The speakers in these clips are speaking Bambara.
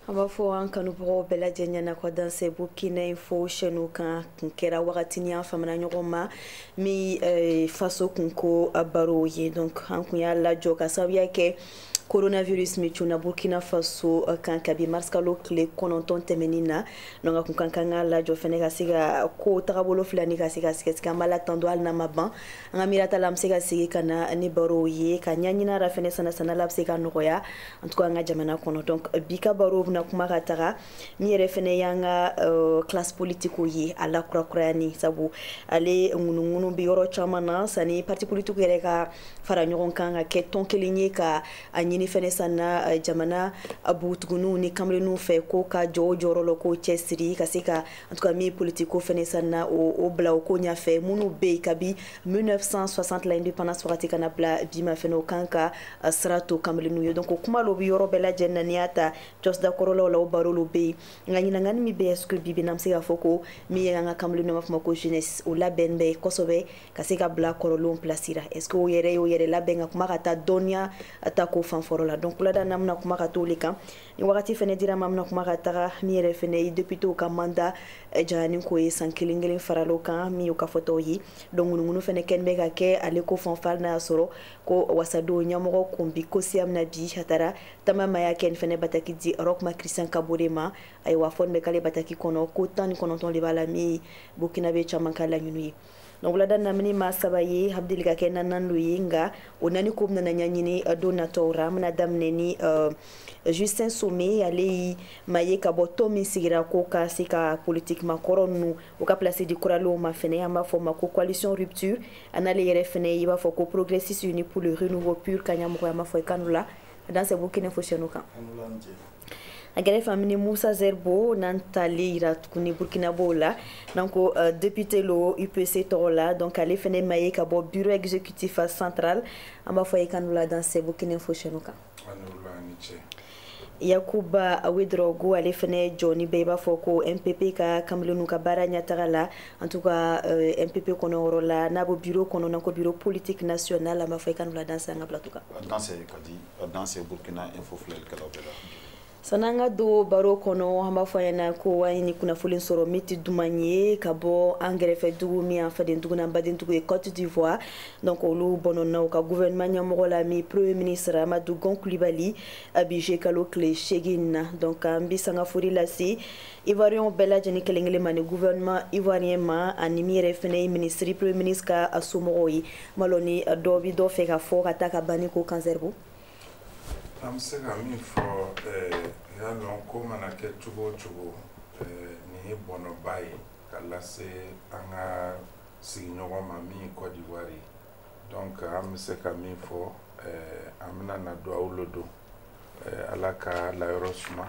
an b'a fɔ an kanubagaw bɛɛ lajɛlen na ko danse burkina info chaîne kan kun kɛra wagatini an famana ɲɔgɔn ma min faso kunko baro ye donc an kun y'a lajɔ ka sababuya kɛ coronavirus min cunna burkina faso eh, kan kabi marisikalo tile kɔnɔntɔn tɛmɛnin na donc a kun kan ka lajɔ fɛnɛ ka se ka ko tagabolo filɛ ni ka se ka sɛgɛsɛgɛ an b'ala tando hali n'a ma ban an ka miirata la an be se ka segi ka na ni barow ye ka ɲaɲina ra fɛnɛ sanasana la be se ka nɔgɔya en tout cas an ka jamana kɔnɔ donc bi ka barow bena kuma ka taga min yɛrɛ fɛnɛ y'an ka euh, classe politique ye a lakurakurayani sabu ale ŋunuŋunu bɛ yɔrɔ caman na sani parti politique yɛrɛ ka fara ɲɔgɔn kan ka kɛ tɔn kelen ye ka a ɲini fɛnɛ sanna euh, jamana bɔgɔtigininw ni kamalenninw fɛ k'o ka jɔ o jɔyɔrɔ la k'o cɛsiri ka se ka en tout cas min politique ko fɛnɛ sanna o bila o ko ɲɛfɛ minnu bɛ yen kabi 1960 la indépendance wagati ka na bila bi ma fɛnɛ o kan ka euh, sira to kamalenninw ye donc kuma lo bɛ yɔrɔ bɛɛ lajɛlen na n'i y'a ta jɔsida kɔrɔlaw la o baro lo bɛ yen nka ɲiningali min bɛ yen est-ce que bibi na an bɛ se k'a fɔ ko min ye an ka kamalenninw an b'a fɔ ma ko jeunesse o labɛn bɛ kosɛbɛ ka se ka bila kɔrɔlenw place ra est-ce que o yɛrɛ y'o yɛrɛ labɛn ka kuma ka taa dɔnniya ta ko fan fɔlɔ la donc wulada n'an bɛna kuma ka t'o le kan ni wagati fɛnɛ dir'an ma an bɛna kuma ka taga min yɛrɛ fɛnɛ ye depitew ka mandat eh, janyani ko ye san kelen kelen faralo kan min y'o ka fɔtaw ye donc ŋunuŋunu fɛnɛ kɛnin bɛ ka kɛ ale ko fan fɛ ali n'a y'a sɔrɔ ko wasadenw ɲɛmɔgɔ kun bi ko siya mina bi a taara taama ma y'a kɛ nin fɛnɛ bataki di roch marc christian kabore ma ayiwa fɔnin bɛ k'ale bataki kɔnɔ ko tan ni kɔnɔntɔn de b'a la min burkinabɛ caman ka laɲini ye donc wulada n'an bi ni maa saba ye a deli ka kɛ naani lo ye nka o naani ko bɛna ɲaɲini eh, don nataw ra an bɛna daminɛ ni uh, justin some ale ye maa ye ka bɔ tɔn min sigira ko ka se ka politiki maakɔrɔ ninnu o ka place di kuralenw ma fɛnɛ an b'a fɔ ma ko coalition rupture a n'ale yɛrɛ fɛnɛ i b'a fɔ ko progressistes unis pour le renouveau pur ka ɲamɔgɔ ye an b'a fɔ i k'a ni wula a danse burkina info chaîne kan a gɛrɛfɛ an bi ni musa zerbo n'an t'ale yira tuguni burkinabɛw la n'an ko uh, député lo upc tɔgɔ la donc ale fɛnɛ maa ye ka bɔ bureau exécutif central an b'a fɔ ye k'a ni wula danse burkina info chaîne kan yakuba wedraogo ale fɛnɛ jɔnin bɛ i b'a fɔ ko mpp ka kamalenninw ka baara ɲɛtaga la en tout cas euh, mpp kɔnɔ yɔrɔ la n'a bɔ bureau kɔnɔ n'an ko bureau politique national an b'a fɔ i k'a ni wula danse an ka plateau kan danse kadi danse burkina info filɛlikɛlaw bɛɛ la san'an ka don baro kɔnɔ an b'a fɔ aw ɲɛna ko an ye ni kunnafoli sɔrɔ min tɛ duman ye ka bɔ an gɛrɛfɛ dugu min an faden dugu n'an baden dugu ye Côte d'Ivoire donc olu bɔnɔna u ka gouvernement ɲɛmɔgɔ la min premier ministre Amadou Gon Coulibaly a bi juillet kalo tile seegin na donc an bi sanga fori lase ivoirienw bɛɛ lajɛni kelen kelen ma ni gouvernement ivoirien ma ani min yɛrɛ fɛnɛ ye ministre premier ministre ka somɔgɔw ye ma lɔni dɔ bi dɔ fɛ ka fɔ ka taa a ka banni ko kan Sɛribo an bɛ se ka min fɔ eh, y'a lɔn ko mana kɛ cogo o cogo eh, nin ye bɔnɔba ye ka lase an ka sigiɲɔgɔn ma min ye Côte d'Ivoire ye donc an bɛ se ka min fɔ eh, an bɛna na duwawu lo don ala k'a layɔrɔ suma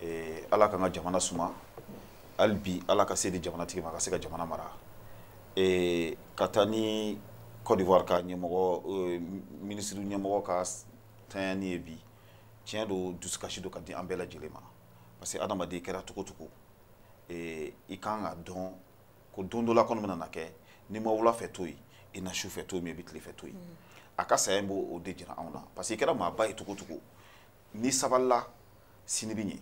ee ala k'an ka jamana suma hali bi ala ka se di jamanatigi ma ka se ka jamana mara ee ka taa ni Côte d'Ivoire ka ɲɛmɔgɔ euh, minisiri ɲɛmɔgɔ ka tanyani ye bi tiɲɛ don dusukasi don ka di an bɛɛ lajɛlen ma parce que adamaden kɛra cogo o cogo ee i kan k'a dɔn ko don dɔ la kɔni bɛna na kɛ n'i ma wula fɛ to yen i na su fɛ to yen i bɛ tile fɛ to yen a ka saya in b'o o de jira anw na parce que i kɛra maaba ye cogo o cogo n'i sabalila sini bɛ ɲɛ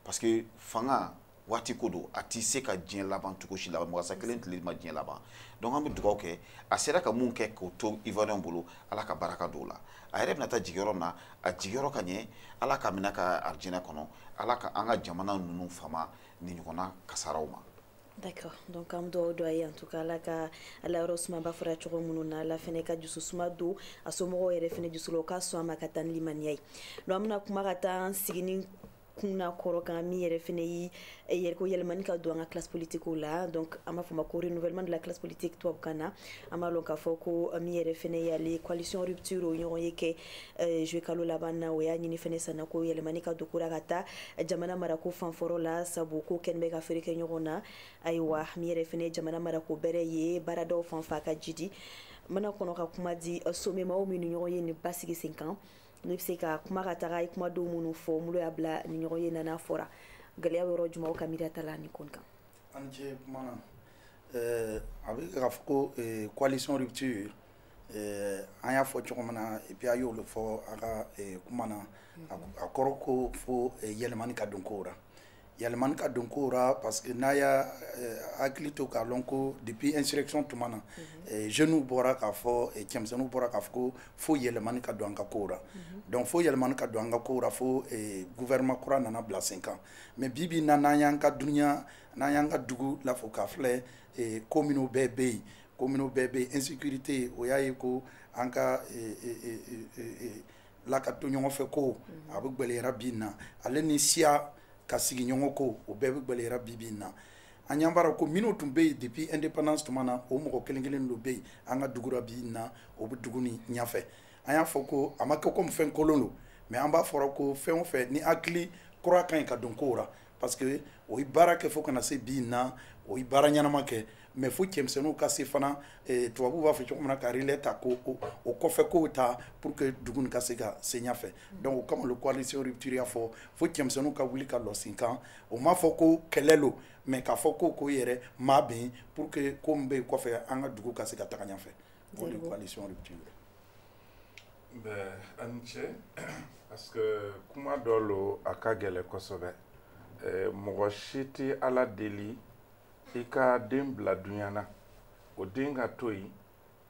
parce que fanga waati ko don a tɛ se ka diɲɛ laban cogo si la masa kelen tile ma diɲɛ laban donc an bɛ dugawu kɛ a sera ka mun kɛ k'o to ivoirien bolo ala ka baraka don o la a yɛrɛ bɛna taa jigiyɔrɔ min na a jigiyɔrɔ ka ɲɛ ala k'a minɛ a ka arijinɛ kɔnɔ ala ka an ka jamana ninnu fama nin ɲɔgɔnna kasaraw ma D'accord. Donc an duwawu don a ye en tout cas ala k'a layɔrɔ suma i b'a fɔra cogo minnu na ala fɛnɛ ka dusu suma don a somɔgɔw yɛrɛ fɛnɛ dusu la o ka sɔn a ma ka taa ni limaniya ye donc an bɛna kuma ka taa an sigini kun na kɔrɔ kan min yɛrɛ fɛnɛ ye yɛrɛ ko yɛlɛmani ka don an ka classe politiquew la donc an b'a fɔ ma ko renouvellement de la classe politique tubabukan na an b'a lɔn k'a fɔ ko min yɛrɛ fɛnɛ y'ale coalition rupture o ɲɔgɔnye kɛ Eh, juin kalo laban na o y'a ɲini fɛnɛ sanna ko yɛlɛmani ka don ko ra ka taa jamana marako fanfɔrɔ la sabu ko kɛnɛ bɛ ka feere kɛ ɲɔgɔn na ayiwa min yɛrɛ fɛnɛ ye jamana marako bɛrɛ ye baaradaw fan fa ka jidi jamana kɔnɔ ka kuma di eh, somemaw min nin ɲɔgɔnye nin basigi sen kan ne bɛ se ka kuma ka taga i kumadenw minnu fɔ mun lo y'a bila nin ɲɔgɔnye nana fɔra gɛlɛya yɔrɔ jumaw ka miiriya ta la nin ko nin kan an ce kuma na eh, a bɛ k'a fɔ ko coalition rupture an y'a fɔ cogo min na et puis a y'o le fɔ a ka kuma na a kɔrɔ ko fo yɛlɛmani ka don ko ra yɛlɛmani ka don ko ra parce que n'a y'a hakili to k'a lɔn ko depuis insurrection tuma na jeunes bɔra k'a fɔ cɛmisɛnninw bɔra k'a fɔ ko fo yɛlɛmani ka don an ka ko ra donc fo yɛlɛmani ka don an ka ko ra fo gouvernement kura nana bila sen kan mais bi bi na n'an y'an ka duniya n'an y'an ka dugu lafo k'a filɛ ko minnu bɛɛ bɛ yen ko minnu bɛɛ bɛ yen insécurité o y'a ye ko an ka eh, eh, eh, la ka to ɲɔgɔn fɛ ko mhm. a bɛ gwɛlɛyara bi na ale ni siya ka sigi ɲɔgɔn ko o bɛɛ bɛ gwɛlɛyara bi bi na an y'an bara ko minnu tun bɛ yen depuis indépendance tuma na o mɔgɔ kelen kelen lo bɛ yen an ka dugu ra bi na o bɛ dugu nin ɲɛfɛ an y'a fɔ ko a ma kɛ comme fɛn kolon lo mais an b'a fɔra ko fɛn o fɛn ni hakili kura ka ɲi ka don kow ra parce que o ye baara kɛ fo ka na se bi na o ye baara ɲɛnama kɛ mais fo cɛmisɛnninw ka se fana eh, tubabuw b'a fɔ cogo min na ka relais ta ko o kɔfɛ kow ta pour que dugu nin ka se ka se ɲɛfɛ donc o kama lo coalition rupture y'a fɔ fo cɛmisɛnninw ka wuli ka lɔ sen kan o m'a fɔ ko kɛlɛ lo mais k'a fɔ ko ko yɛrɛ ma bɛn pour que ko min bɛ yen kɔfɛ an ka dugu ka se ka taga ɲɛfɛ o de coalition rupture bɛɛ a ni ce parce que kuma dɔ lo a ka gɛlɛ kosɛbɛ eh, mɔgɔ si tɛ ala deli i ka den bila duɲa na o den ka to yen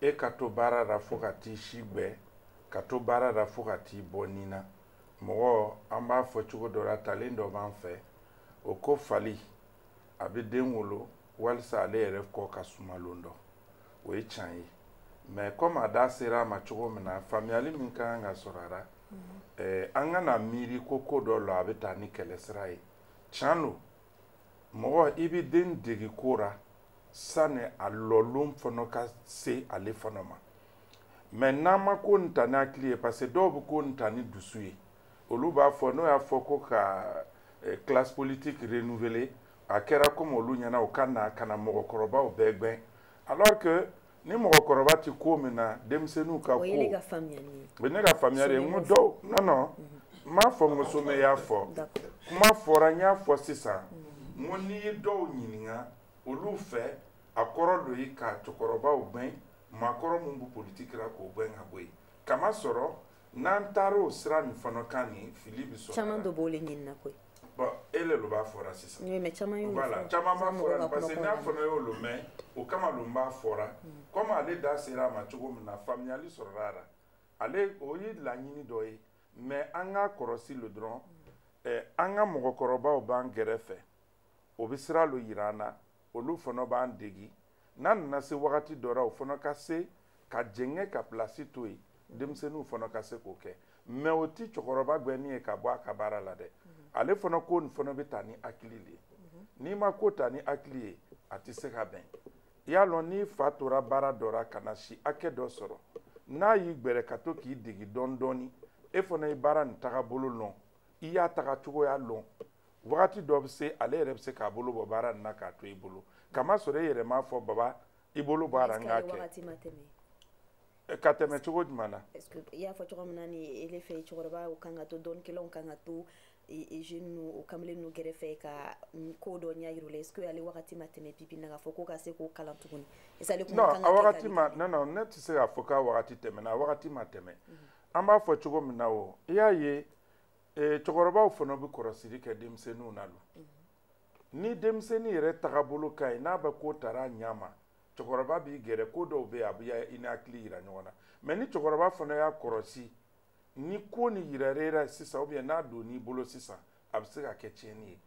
e ka to baara la fo ka t'i si gbɛ ka to baara la fo ka t'i bɔ ni na mɔgɔ an b'a fɔ cogo dɔ la talen dɔ b'an fɛ o ko fali a bɛ den wolo walisa ale yɛrɛ kɔ ka suma lon dɔ o ye tiɲɛ ye mais comme a da sera a ma cogo min na faamuyali min ka kan ka sɔrɔ a la eh, an kana miiri ko ko dɔ lo a bɛ taa ni kɛlɛ sira ye tiɲɛ lo mɔgɔ i bɛ den dege ko ra sani a lɔlon fana ka se ale fana ma mais n'an ma ko nin ta ni hakili ye parce que dɔw bɛ ko nin ta ni dusu ye olu b'a fɔ n'o y'a fɔ ko ka eh, classe politique renouveler a kɛra comme olu ɲɛna o ka na ka na mɔgɔkɔrɔbaw bɛɛ gwɛn alors que ni mɔgɔkɔrɔba ti ko min na denmisɛnninw ka ko o ye ne ka faamuya de ye n ko dɔw non non n m'a fɔ n ko somɛ y'a fɔ kuma fɔra n y'a fɔ sisan n ko n'i ye dɔw ɲininka olu fɛ a kɔrɔ lo ye ka cɛkɔrɔbaw gwɛn maakɔrɔ min bɛ politiki la k'o gwɛn ka bɔ yen k'a masɔrɔ n'an taar'o sira nin fana kan nin fili bɛ sɔrɔ caman dɔ b'o le ɲinina koyi bon e le lo b'a fɔra sisan oui mais caman y'o voilà caman b'a fɔra parce que ne fana y'o lo mɛn o kama lo n b'a fɔra comme ale da sera a ma cogo min na faamuyali sɔrɔla a la ale o ye laɲini dɔ ye mais an k'a kɔrɔsi lo dɔrɔn eh, an ka mɔgɔkɔrɔbaw b'an gɛrɛfɛ o bɛ sira lo yira an na olu fana b'an degi n'a nana se wagati dɔ la o fana ka se ka jɛngɛ ka pilasi to yen denmisɛnninw fana ka se k'o kɛ mais o ti cɛkɔrɔba gwɛnni ye ka bɔ a ka baara la dɛ ale fana ko nin fana bɛ ta ni hakili de ye n'i ma ko ta ni hakili ye a tɛ se ka bɛn i y'a lɔn n'i fa tora baara dɔ la ka na si hakɛ dɔ sɔrɔ n'a y'i gbɛrɛ ka to k'i degi dɔɔni dɔɔni e fana ye baara nin tagabolo lɔn i y'a taga cogoya lɔn wagati dɔ bɛ se ale yɛrɛ bɛ se k'a bolo bɔ baara nin na k'a to i bolo kamasɔrɔ e yɛrɛ m'a fɔ baba i bolo bɔ a ra n k'a kɛ eh, ka tɛmɛ cogo jumɛn na i y'a fɔ cogo min na ni ele fɛ cɛkɔrɔba o kan ka to dɔɔni kɛlɛw kan ka to jeune nu o kamalen nu gɛrɛfɛ ka ko dɔ ɲɛ yir'u la est ce que ale wagati ma tɛmɛ bi bi na k'a fɔ ko ka se k'o kalan tuguni est ce que ale kuma kan ka kɛ wagati ma non non ne tɛ se k'a fɔ k'a wagati tɛmɛna a wagati ma tɛmɛ mhm. an b'a fɔ cogo min na o i y'a ye ee cɛkɔrɔbaw fana bɛ kɔrɔsiri kɛ denmisɛnninw na don ni denmisɛnnin yɛrɛ tagabolo ka ɲi n'a bɛ ko tara a ɲɛ ma cɛkɔrɔba b'i gɛrɛ ko dɔw bɛ yen a bɛ i ni hakili yira ɲɔgɔn na mais ni cɛkɔrɔba fana y'a kɔrɔsi ni ko ni yirara e ra sisan ou bien n'a donn'i bolo sisan a bɛ se ka kɛ tiɲɛni ye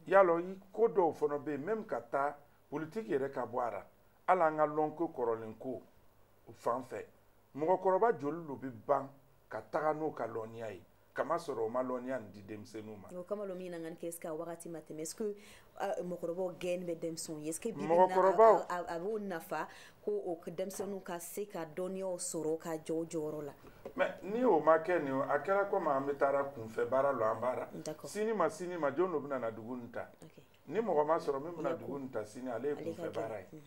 y'a lɔn ko dɔw fana bɛ yen même ka taa politiki yɛrɛ ka bɔ a la hali an ka lɔnko kɔrɔlen ko fan fɛ mɔgɔkɔrɔba joli de bɛ ban ka taga n'o ka lɔnniya ye kamasɔrɔ o ma lɔnniya nin di denmisɛnninw ma. o kama lo min na ŋani kɛ est ce que a wagati ma tɛmɛ est ce que euh, mɔgɔkɔrɔbaw gɛn bɛ denmisɛnw ye est ce que bi bi mɔgɔkɔrɔbaw a b'o nafa ko o denmisɛnninw ka se ka dɔnniyaw sɔrɔ ka jɔ o jɔyɔrɔ la. mais ni o ma kɛ nin a kɛra komi an bɛ taara kunfɛ baara lo an b'a ra sini ma sini ma jɔn dɔ bɛna na dugu nin ta ni mɔgɔ ma sɔrɔ min bɛna dugu nin ta sini ale ye kunfɛ baara ye.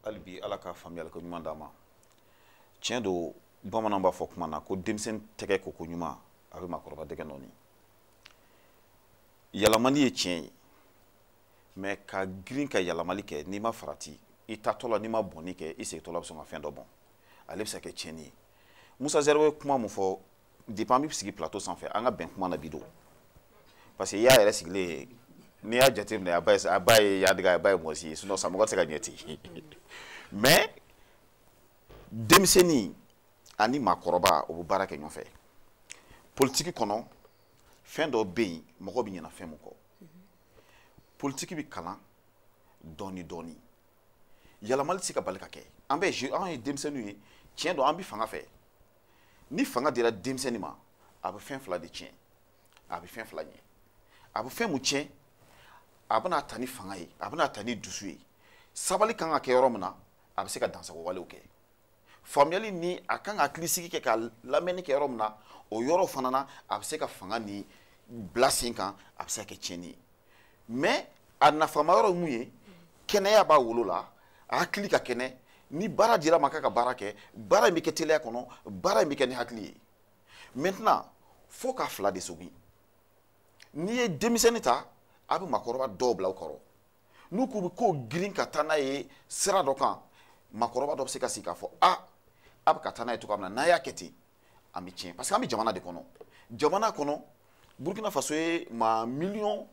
hali bi ala ka faamuyali ko ɲuman d'an ma tiɲɛ don bamananw b'a fɔ kuma na ko denmisɛnnin tɛgɛ ko ko ɲuman a bɛ maakɔrɔba dɛgɛ nɔɔni yɛlɛmali ye tiɲɛ ye mais ka girin ka yɛlɛmali kɛ n'i ma farati i taatɔ la n'i ma bɔnni kɛ i segintɔ la bɛ sɔn ka fɛn dɔ bɔn ale bɛ se ka kɛ tiɲɛni ye musa zɛribo bɛ kuma mun fɔ depuis an bɛ sigi plateau sanfɛ an ka bɛn kuma na bi don parce que i y'a yɛrɛ sigilen ye n'i y'a jateminɛ a ba ye a ba ye yadiga a ba ye mɔsi ye sinon samɔgɔ tɛ se ka ɲɛ ten mais denmisɛnnin ani maakɔrɔba o bɛ baara kɛ ɲɔgɔn fɛ politiki kɔnɔ fɛn dɔ bɛ yen mɔgɔ bɛ ɲɛna fɛn min kɔ politiki bɛ kalan dɔɔni dɔɔni yɛlɛmali tɛ se ka bali ka kɛ an bɛ je an ye denmisɛnninw ye tiɲɛ don an bɛ fanga fɛ ni fanga dira denmisɛnnin ma a bɛ fɛn fila de tiɲɛ a bɛ fɛn fila ɲɛ a bɛ fɛn mun tiɲɛ a bɛna taa ni fanga ye a bɛna taa ni dusu ye sabali kan ka kɛ yɔrɔ min na a bɛ se ka dansagon walew kɛ faamuyali ni a kan ka hakilisigi kɛ ka lamɛnni kɛ yɔrɔ min na o yɔrɔ fana na a bɛ se ka fanga ni bila sen kan a bɛ se ka kɛ tiɲɛni ye mais a nafama yɔrɔ ye mun ye kɛnɛya b'a wolo la a hakili ka kɛnɛ ni baara dir'a ma k'a ka baara kɛ baara in bɛ kɛ teliya kɔnɔ baara in bɛ kɛ ni hakili ye maintenant fo k'a fila de sogin n'i ye denmisɛnnin ta a bɛ maakɔrɔba dɔw bila u kɔrɔ n'u k'u bɛ ko girin ka taa n'a ye sira dɔ kan maakɔrɔba dɔ bɛ se ka sigi k'a fɔ a a bɛ ka taa n'a ye cogoya min na n'a y'a kɛ ten an bɛ tiɲɛ parce que an bɛ jamana de kɔnɔ jamana kɔnɔ burkina faso ye maa miliyɔn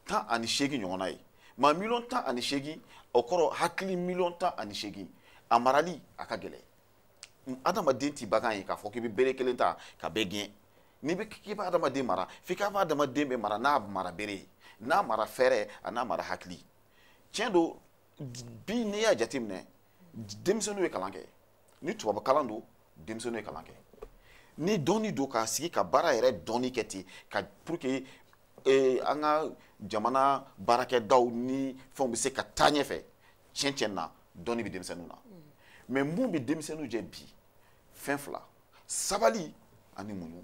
tan ani seegin ɲɔgɔnna ye maa miliyɔn tan ani seegin o kɔrɔ hakili miliyɔn tan ani seegin a marali a ka gɛlɛn adamaden ti bagan ye k'a fɔ k'i bɛ bere kelen ta ka bɛɛ gɛn n'i bɛ k'i bɛ adamaden mara f'i k'a fɔ adamaden bɛ mara n'a mara bere ye n'a mara fɛɛrɛ an'a mara hakili tiɲɛ don bi n'i y'a jateminɛ denmisɛnninw ye kalan kɛ ni tubabu kalan don denmisɛnninw ye kalan kɛ ni dɔnni don k'a sigi ka baara yɛrɛ dɔnni kɛ ten ka pour que eh, an ka jamana baarakɛdaw ni fɛnw bɛ se ka taa ɲɛfɛ tiɲɛ tiɲɛ na dɔnni bɛ denmisɛnninw na mais mun bɛ denmisɛnninw jɛ bi fɛn fila sabali ani muɲu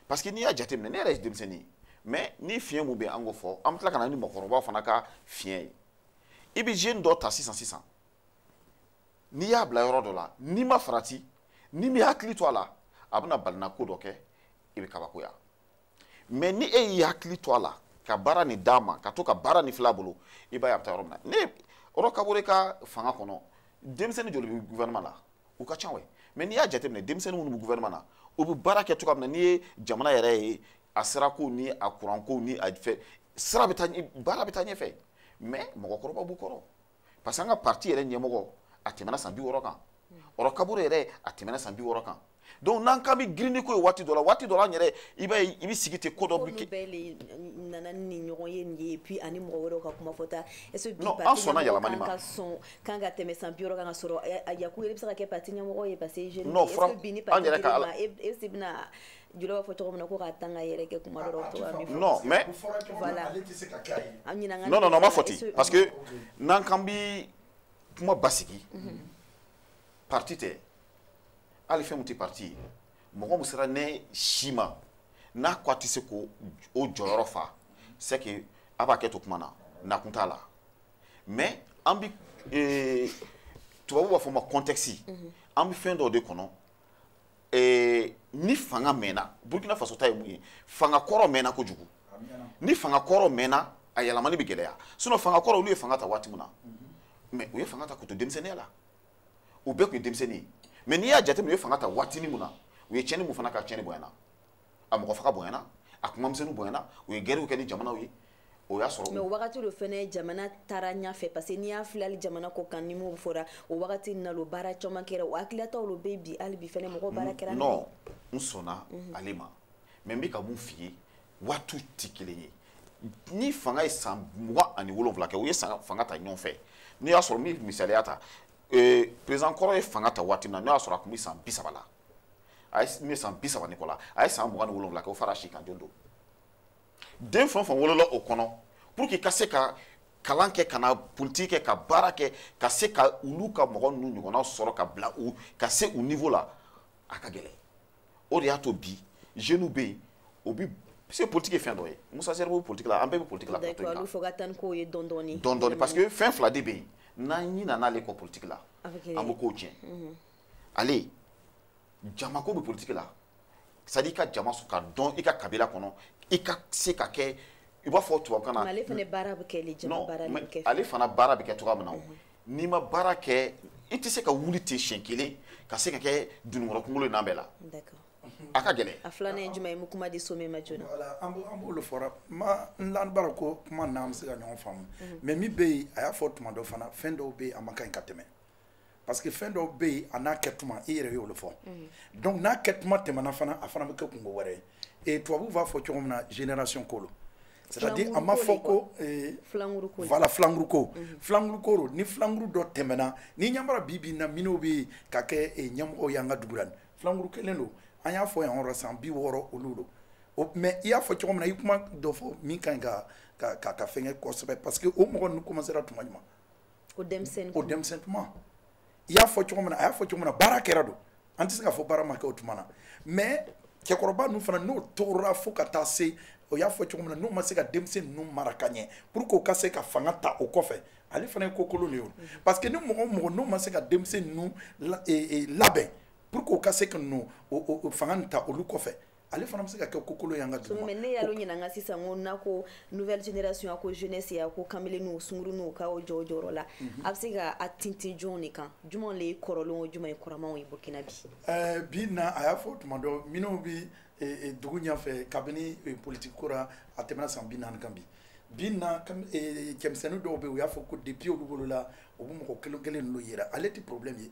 parce que n'i y'a jateminɛ ne yɛrɛ ye denmisɛnnin ye mais ni fiɲɛ mun bɛ an k'o fɔ an bɛ tila ka na ni mɔgɔkɔrɔbaw fana ka fiɲɛ ye i bɛ jeune dɔ ta sisan sisan n'i y'a bila yɔrɔ dɔ la n'i ma farati n'i m'i hakili to a la a bɛna balina ko dɔ kɛ i bɛ kabakoya mais ni e y'i hakili to a la ka baara nin d'a ma ka to ka baara nin filɛ a bolo i b'a ye a bɛ taa yɔrɔ min na nin Roch Kaboré ka fanga kɔnɔ denmisɛnnin joli bɛ gouvernement la u ka ca wɛ mais n'i y'a jateminɛ denmisɛnnin minnu bɛ gouvernement na u bɛ baara kɛ cogoya min na n'i ye jamana yɛrɛ ye a sirako ni a kuranko ni a fɛ sira bɛ taa baara bɛ taa ɲɛfɛ mais mɔgɔkɔrɔba b'u kɔrɔ parce que an ka parti yɛrɛ ɲɛmɔgɔ a tɛmɛna san bi wɔɔrɔ kan Roch Kaboré yɛrɛ a tɛmɛna san bi wɔɔrɔ kan donc n'an k'an bɛ girin ni ko ye waati dɔ la waati dɔ la an yɛrɛ i b'a ye i bɛ sigi ten ko dɔ bɛ kɛ. olu bɛɛ le nana ni ɲɔgɔn ye nin ye puis ani mɔgɔ wɛrɛw ka kuma fɔta est ce que bi parti ɲɛmɔgɔ kan ka sɔn kan ka tɛmɛ san bi wɔɔrɔ kan ka sɔrɔ yaku yɛrɛ bɛ se ka kɛ parti ɲɛmɔgɔ ye parce que jeune est ce que bi ni parti dir'i ma e e se bɛna jula b'a fɔ cogo min na ko k'a tan k'a yɛrɛkɛ kuma dɔrɔn to ka min fɔ non mais voilà an ɲinan ka non non non ma fɔ ten parce que n'an k'an bi kuma basigi mhm. parti tɛ hali fɛn min tɛ parti ye mɔgɔ min sera ne si ma n'a ko a tɛ se k'o jɔyɔrɔ fa c'est que a b'a kɛ to kuma na nakun t'a la mais an bi tubabu b'a fɔ ma contexte mhm. an bi fɛn dɔ de kɔnɔ eh, ni fanga mɛnna burkina faso ta ye mun ye fanga kɔrɔ mɛnna kojugu ni fanga kɔrɔ mɛnna a yɛlɛmani bɛ gɛlɛya sinon fanga kɔrɔ olu ye fanga ta waati min na mais mhm. u ye fanga ta k'u to denmisɛnninya la u bɛɛ tun ye denmisɛnnin ye mais n'i y'a jateminɛ u ye fanga ta waatinin min na u ye tiɲɛni mun fana kɛ tiɲɛni bonyana a mɔgɔ faga bonyana a kumamisɛnninw bonyana u ye gɛriw kɛ ni jamanaw ye o y'a sɔrɔ mais o wagati de fɛnɛ jamana taara ɲafɛ parce que n'i y'a filɛ hali jamana kɔ kan ni m'o fɔra o wagati na lo baara caman kɛra o hakililataw lo bɛ bi hali bi fɛnɛ mɔgɔ mm, baara kɛra non n sɔnna mhm. ale ma mais n bɛ ka mun f'i ye waatiw tɛ kelen ye ni fanga ye san mugan ani wolonwula kɛ u ye fanga ta ɲɔgɔn fɛ n'o y'a sɔrɔ n bɛ misaliya ta président kɔrɔ ye fanga ta waati min na n'o y'a sɔrɔ a tun bɛ san bi saba la a ye ne san bi saba ni kɔ la a ye san mugan ni wolonwula kɛ o fara si kan don don den fɛn o fɛn wolola o kɔnɔ pour que ka se ka kalan kɛ ka na politiki kɛ ka baara kɛ ka se ka olu ka mɔgɔ ninnu ɲɔgɔnna sɔrɔ ka bila u ka se u niveau la a ka gɛlɛn o de y'a to bi jeunes bɛ yen o bi se politiki ye fɛn dɔ ye Musa Zerbo bɛ politiki la an bɛɛ bɛ politiki la plateau in kan fo ka taa ni kow ye dɔɔni dɔɔni dɔɔni dɔɔni parce que fɛn fila de bɛ yen n'an ɲinana ale kɔ politiki la an bɛ kow tiɲɛ. ale jama ko bɛ politiki la c'est à dire i ka jama sɔrɔ ka don i ka kabila kɔnɔ i ka se ka kɛ i b'a fɔ tubabukan na ale fana baara bɛ kɛ le jama baara bɛ kɛ ale fana baara bɛ kɛ cogoya min na mhm. n'i ma baara kɛ i tɛ se ka wuli ten siɲɛ kelen ka se ka kɛ dununkɔrɔ kunkolo in na bɛɛ la a ka gɛlɛn a filanan ye jumɛn ye n bɛ kuma di Somɛ ma joona voilà an b'olu fɔra mais n lanin b'a ra ko kuma n'an bɛ se ka ɲɔgɔn faamu mhm. mais min bɛ yen a y'a fɔ tuma dɔ fana fɛn dɔw bɛ yen a man ka ɲi ka tɛmɛ parce que fɛn dɔw bɛ yen a n'a kɛ tuma i yɛrɛ y'olu fɔ mm. donc n'a kɛ tuma tɛmɛna fana a fana bɛ kɛ kunko wɛrɛ ye et tubabuw b'a fɔ cogo min na génération ko lo c'est à dire a ma fɔ ko voilà filanguru ko mm-hmm. filanguru ko don ni filanguru dɔ tɛmɛna n'i y'a mara bi bi in na minnu bɛ ka kɛ ɲɛmɔgɔw y'an ka dugu la filanguru kelen don an y'a fɔ yan yɔrɔ san bi wɔɔrɔ olu don mais i y'a fɔ cogo min na i kuma dɔ fɔ min ka ɲi ka ka ka fɛngɛ kosɛbɛ parce que o mɔgɔ ninnu commencera tuma jumɛn o denmisɛnnin o denmisɛnnin tuma i y'a fɔ cogo min na a y'a fɔ cogo min na baara kɛra don an tɛ se k'a fɔ baara ma kɛ o tuma na mais cɛkɔrɔba ninnu fana n'o tora fo ka taa se o y'a fɔ cogo min na n'u ma se ka denmisɛn ninnu mara ka ɲɛ pour que u ka se ka fanga ta o kɔfɛ ale fana ye ko kolon de ye o parce que ni mɔgɔ o mɔgɔ n'u ma se ka denmisɛn ninnu labɛn pour que u ka se ka na o fanga nin ta olu kɔfɛ ale fana bɛ se ka kɛ ko kolon y'an ka dugu ma. ne y'alu ɲininka sisan ko n'a ko nouvelle génération a ko jeunesse a ko kamelenniw sunguruninw k'aw jɔ o jɔyɔrɔ la mhm. a bɛ se ka a tintin jɔnw de kan jumɛn de ye kɔrɔlenw o jumɛn ye kuramanw ye Burkina bi. ɛɛ eh, bi na a y'a fɔ tuma dɔ minnu bɛ eh, eh, dugu ɲɛfɛ kabini politiki ko la a tɛmɛna san bi naani kan bi bi na cɛmisɛnnin dɔw bɛ yen u y'a fɔ ko depuis olu wolola u bɛ mɔgɔ kelen kelen ninnu yera ale tɛ problème ye.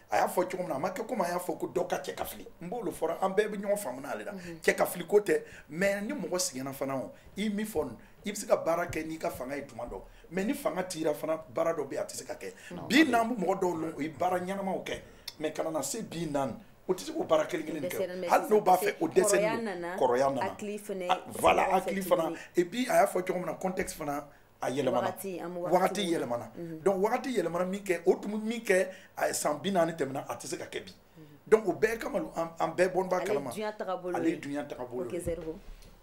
a y'a fɔ cogo min na a ma kɛ komi a y'a fɔ ko dɔ ka cɛ ka fili n b'o lo fɔra an bɛɛ bɛ ɲɔgɔn faamuna ale la mhm. cɛ ka fili ko tɛ mais ni mɔgɔ sɛgɛnna fana o i min fɔ i bɛ se ka baara kɛ n'i ka fanga ye tuma dɔ mais ni fanga tira fana baara dɔ bɛ yen a tɛ se ka kɛ bi n'an bɛ mɔgɔ dɔw lɔn o ye baara ɲɛnamaw kɛ mais ka na na se bi na o tɛ se k'o baara kelen kelen kɛ hali n'o b'a fɛ o dɛsɛ kɔrɔya nana voilà hakili fana et puis a y'a fɔ cogo min na contexte fana a yɛlɛmana wagati yɛlɛmana mhm. donc wagati yɛlɛmana min kɛ o tun min kɛ san bi naani tɛmɛna a tɛ se ka kɛ bi mhm. donc o bɛɛ kama an bɛɛ bon b'a kalama ale ye dunya tagabolo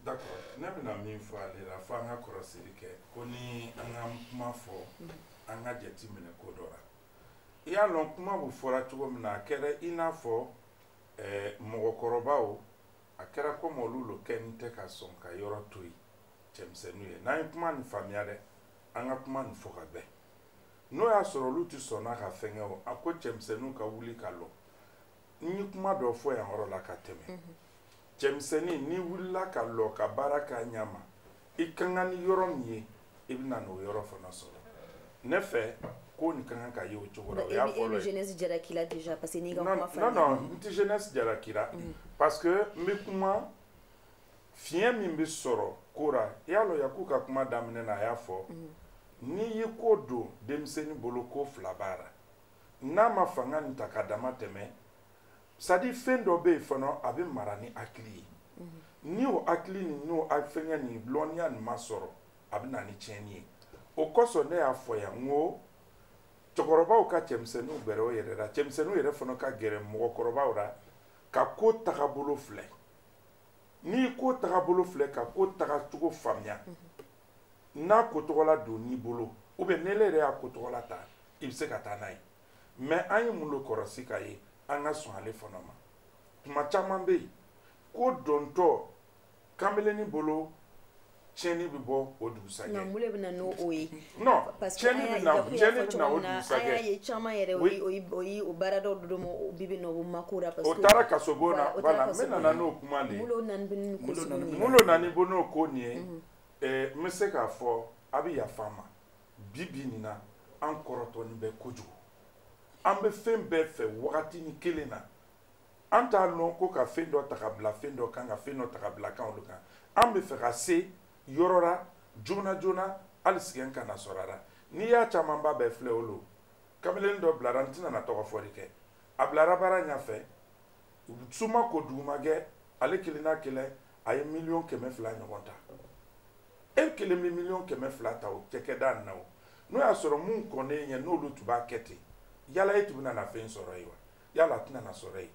d'accord ne bɛna min fɔ ale la fo an ka kɔrɔsiri kɛ ko ni an ka kuma fɔ mhm. an ka jate minɛ ko dɔ la i y'a lɔn kuma bɛ fɔra cogo min na a kɛra i n'a fɔ eh, mɔgɔkɔrɔbaw a kɛra komi olu lo kɔni tɛ ka sɔn ka yɔrɔ to yen cɛmisɛnninw ye n'an ye kuma nin faamuya dɛ an ka kuma nin fɔ ka bɛn n'o y'a sɔrɔ olu tɛ sɔnna ka fɛnkɛ o a ko cɛmisɛnninw ka wuli ka lɔ n ye kuma dɔ fɔ yan yɔrɔ la ka tɛmɛ cɛmisɛnnin n'i wulila ka lɔ ka baara k'a ɲɛ ma i ka kan ni yɔrɔ min ye i bɛ na n'o yɔrɔ fana sɔrɔ ne fɛ ko nin ka kan ka ye o cogo la o y'a fɔlɔ ye. jeunesse jaraki la déjà parce que n'i ka kuma faamu. non non n tɛ jeunesse jaraki la. Mm. parce que n bɛ kuma fiɲɛ min bɛ sɔrɔ ko la i y'a lɔn Yaku ka kuma daminɛ na a y'a fɔ mm. n'i ye ko don denmisɛnnin bolo ko fila b'a la n'a ma fanga nin ta ka damatɛmɛ. c'est à dire fɛn dɔ bɛ yen fana a bɛ mara ni hakili ye mhm. ni o hakili ni n'o fɛngɛ nin lɔnniya nin ma sɔrɔ a bɛ na ni tiɲɛni ye o kosɔn ne y'a fɔ yan n ko cɛkɔrɔbaw ka cɛmisɛnninw gɛrɛ o yɛrɛ la cɛmisɛnninw yɛrɛ fana ka gɛrɛ mɔgɔkɔrɔbaw la ka ko tagabolo filɛ n'i ko tagabolo filɛ ka ko tagacogo faamuya mhm. n'a ko tɔgɔla donn'i bolo ou bien n'e yɛrɛ y'a ko tɔgɔla ta i bɛ se ka taa n'a ye mais an ye mun lo kɔrɔsi ka ye an ka sɔn ale fana ma tuma caman bɛ yen ko dontɔ kanbelennin bolo tiɲɛni bɛ bɔ o dugusajɛ nka mun de bɛ na n'o o ye non tiɲɛni bɛ na tiɲɛni bɛ na o dugusajɛ an y'a ye caman yɛrɛ o ye o ye o baara dɔw dodo ma o bi bɛ na o mako la parce que o taara kasobon na voilà n bɛ nana n'o kuma de ye mun lo nanin bɛ ni ko sugu ninnu mun lo nanin bɛ n'o ko nin ye ɛɛ n bɛ se k'a fɔ a bɛ yafa n ma bi bi nin na an kɔrɔtɔlen bɛ kojugu an bɛ fɛn bɛɛ fɛ wagatinin kelen na an t'a lɔn ko ka fɛn dɔ ta ka bila fɛn dɔ kan ka fɛn dɔ ta ka bila kan olu kan an bɛ fɛ ka se yɔrɔ la joona joona hali sigɛn kana sɔrɔ a la n'i y'a camanba bɛɛ filɛ o lo kamalen dɔ bilara n tɛna na tɔgɔ fɔli kɛ a bilara baara ɲɛfɛ su ma ko dugu ma gɛ ale kelen n'a kelen a ye miliyɔn kɛmɛ fila ɲɔgɔn ta e kelen bɛ miliyɔn kɛmɛ fila ta o cakɛda na o n'o y'a sɔrɔ mun kɔnnen ɲɛ n'olu tun b'a kɛ ten yala e tun bɛna na fɛn sɔrɔ yen wa yala a tɛna na sɔrɔ yen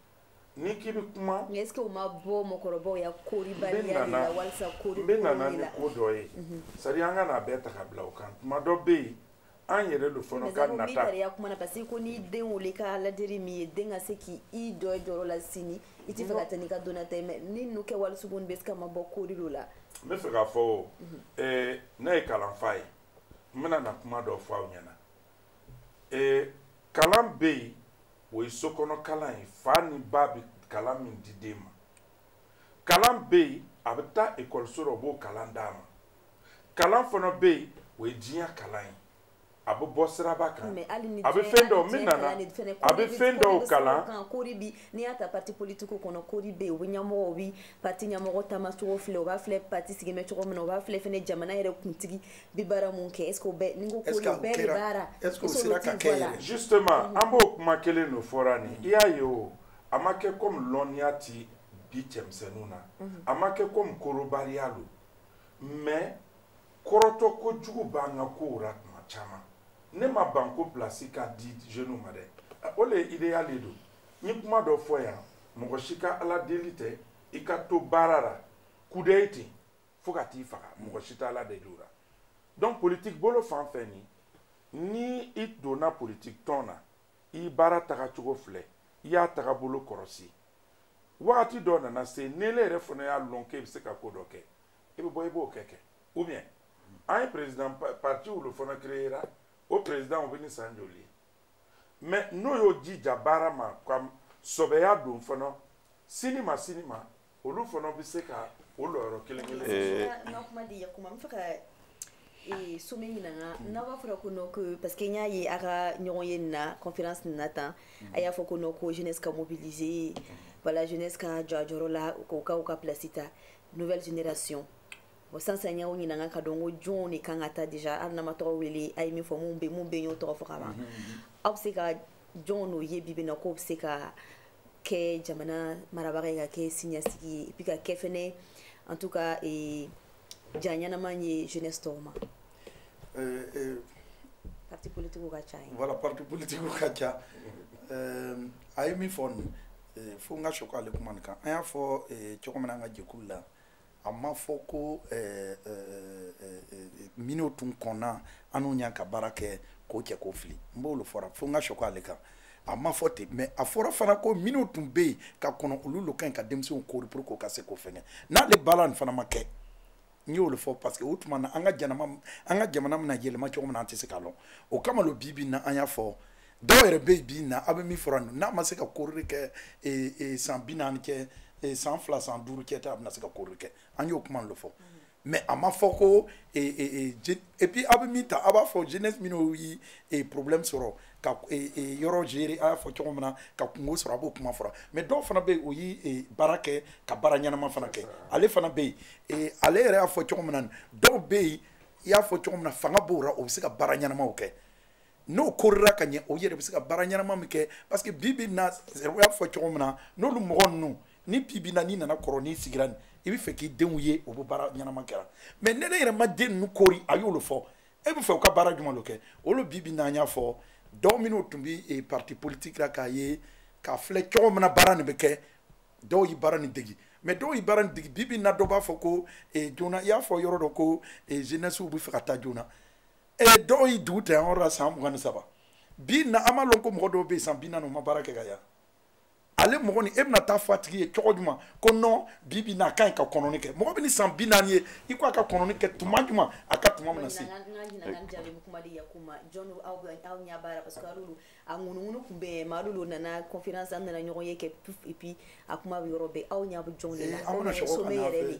n'i k'i bɛ kuma. mais est ce que o ma bɔ mɔgɔkɔrɔbaw ya koribaliya de la walisa kori ko la n bɛna na ni ko dɔ ye mhm. c'est à dire an kan'a bɛɛ ta ka bila o kan tuma dɔ bɛ yen an yɛrɛ lo fana ka nata mais i ya kuma na parce que ko n'i den wele ka ladiri min ye den ka se k'i jɔ i jɔyɔrɔ la sini i tɛ fɛ ka taa n'i ka donna ta ye mais ni ninnu kɛwali sugu est ce que a ma bɔ kori lo la n bɛ fɛ k'a fɔ o eh, ne ye kalanfa ye n bɛna na kuma dɔ fɔ aw ɲɛna eh, kalan bɛ yen o ye sokɔnɔ kalan ye fa ni ba bɛ kalan min di den ma kalan bɛ yen a bɛ taa ekɔliso la o b'o kalan d'a ma kalan fana bɛ yen o ye diɲɛ kalan ye a bɛ bɔ siraba kan a bɛ fɛn dɔw min nana a bɛ fɛn dɔw kalan kori bi n'i y'a ta pati politiki kɔnɔ kori bɛ yen o bi ɲɛmɔgɔ o bi pati ɲɛmɔgɔ taamacogo filɛ o b'a filɛ pati sigilen bɛ cogo min na o b'a filɛ fɛnɛ jamana yɛrɛ kuntigi bɛ baara mun kɛ est-ce que o bɛɛ ni ko kori bɛɛ de baara est-ce que o sera ka kɛ yɛrɛ justement an b'o kuma kelen de fɔra nin i y'a ye o a ma kɛ comme lɔnniya ti bi cɛmisɛnninw na a ma kɛ comme korobariya don mais kɔrɔtɔkojugu b'an ka kow la tuma caman ne ma ban ko pilasi ka di jeunes ma dɛ o le idéal de don n ye kuma dɔ fɔ yan mɔgɔ si ka ala deli tɛ i ka to baara la kudayi ten fo ka t'i faga mɔgɔ si tɛ ala deli o la donc politique bolo fan fɛnɛ ni i donna politique tɔn na i baara tagacogo filɛ i y'a tagabolo kɔrɔsi wagati dɔ nana se n'ele yɛrɛ fana y'a lɔn k'e bɛ se ka ko dɔ kɛ i bɛ bɔ i b'o kɛ kɛ ou bien an ye président partiw de fana créera o président o bɛ ni san joli ye mais n'o y'o jija baara ma ka sɔbɛya don fana sini ma sini ma olu fana bɛ se ka o lɔyɔrɔ kelen kelen eh. n ka kuma di yakuma n bɛ fɛ ka eh, some ɲininga hmm. n'a b'a fɔra ko non ko parce que n y'a ye a ka ɲɔgɔnye nin na conférence nin na tan hmm. a y'a fɔ ko non ko jeunesse ka mobiliser voilà jeunesse ka jɔ a jɔyɔrɔ la k'u ka place ta nouvelle génération bon sisan y'aw ɲininka ka dɔn ko jɔnw de kan ka taa déjà hali n'an ma tɔgɔ wele a ye min fɔ mun bɛ mun bɛ y'o tɔgɔ fɔ ka ban aw bɛ se ka jɔnw lo ye bi bi in na k'o bɛ se ka kɛ jamana marabaga ye ka kɛ siniɲasigi ye et puis ka kɛ fɛnɛ en tout cas eh, ja ɲɛnama ye jeunesse tɔw ma euh, euh, parti politikiw ka ca ye voilà parti politikiw ka ca euh, a ye min fɔ nin fo n ka sɔkɔ ale kuma nin kan an y'a fɔ cogo min na an ka jɛkulu la a ma fɔ ko minnu tun kɔnna an n'u ɲa ka baara kɛ k'o cɛ k'o fili n b'o lo fɔra fo n ka sɔkɔ ale kan a ma fɔ ten mais a fɔra fana ko minnu tun bɛ yen ka kɔnɔ olu lo ka ɲi ka denmisɛnw kori pour que o ka se k'o fɛngɛ n'ale baara nin fana ma kɛ n y'o lo fɔ parce que o tuma na an ka jamana an ka jamana bɛna yɛlɛma cogo min na an tɛ se k'a lɔn o kama lo bi bi in na an y'a fɔ dɔw yɛrɛ bɛ yen bi na a bɛ min fɔra nin n'a ma se ka korili kɛ ee, ee, san bi naani kɛ ee, san fila san duuru cɛ tɛ a bɛna se ka korili kɛ an y'o kuma lo fɔ mais a ma fɔ ko ee, et puis a bɛ min ta a b'a fɔ jeunesse minnu ye problème sɔrɔ ka yɔrɔ gérer a y'a fɔ cogo min na ka kunko sɔrɔ a b'o kuma fɔra mais dɔw fana bɛ yen o ye baara kɛ ka baara ɲɛnama fana kɛ ale fana bɛ yen ale yɛrɛ y'a fɔ cogo min na dɔw bɛ yen i y'a fɔ cogo min na fanga b'o la o bɛ se ka baara ɲɛnamaw kɛ n'o korira ka ɲɛ o yɛrɛ bɛ se ka baara ɲɛnama min kɛ parce que bi bi na o y'a fɔ cogo min na n'olu mɔgɔ ninnu ni bi bi na n'i nana kɔrɔ n'i sigira nin i bɛ fɛ k'i denw ye o bɛ baara ɲɛnama kɛra mais ni e yɛrɛ ma den ninnu kori a y'o lo fɔ e bɛ fɛ u ka baara jumɛn de kɛ olu bi bi na an y'a fɔ dɔw minnu tun bɛ eh, parti politique la k'a ye k'a filɛ cogo min na baara nin bɛ kɛ dɔw ye baara nin degi mais dɔw ye baara nin degi bi bi na dɔ b'a fɔ ko eh, joona i y'a fɔ yɔrɔ dɔ ko eh, jeunesse bɛ fɛ ka taa joona e dɔw ye dugu ta yan yɔrɔ la san mugan ni saba bi na an b'a lɔn ko mɔgɔ dɔw bɛ yen san bi naani u ma baara kɛ ka ye ale mɔgɔ nin e bɛna taa fɔ a tigi ye cogo jumɛn ko non bi bi na a ka ɲi ka kɔnɔni kɛ mɔgɔ bɛ ni san bi naani ye i ko a ka kɔnɔni kɛ tuma jumɛn a ka tuma bɛna se. a ŋunuŋunu tun bɛ mais alu lo nana conférence an nana ɲɔgɔn ye kɛ puf et puis a kuma bɛ yɔrɔ bɛɛ aw ɲɛ bɛ jɔnw de la sommet yɛrɛ de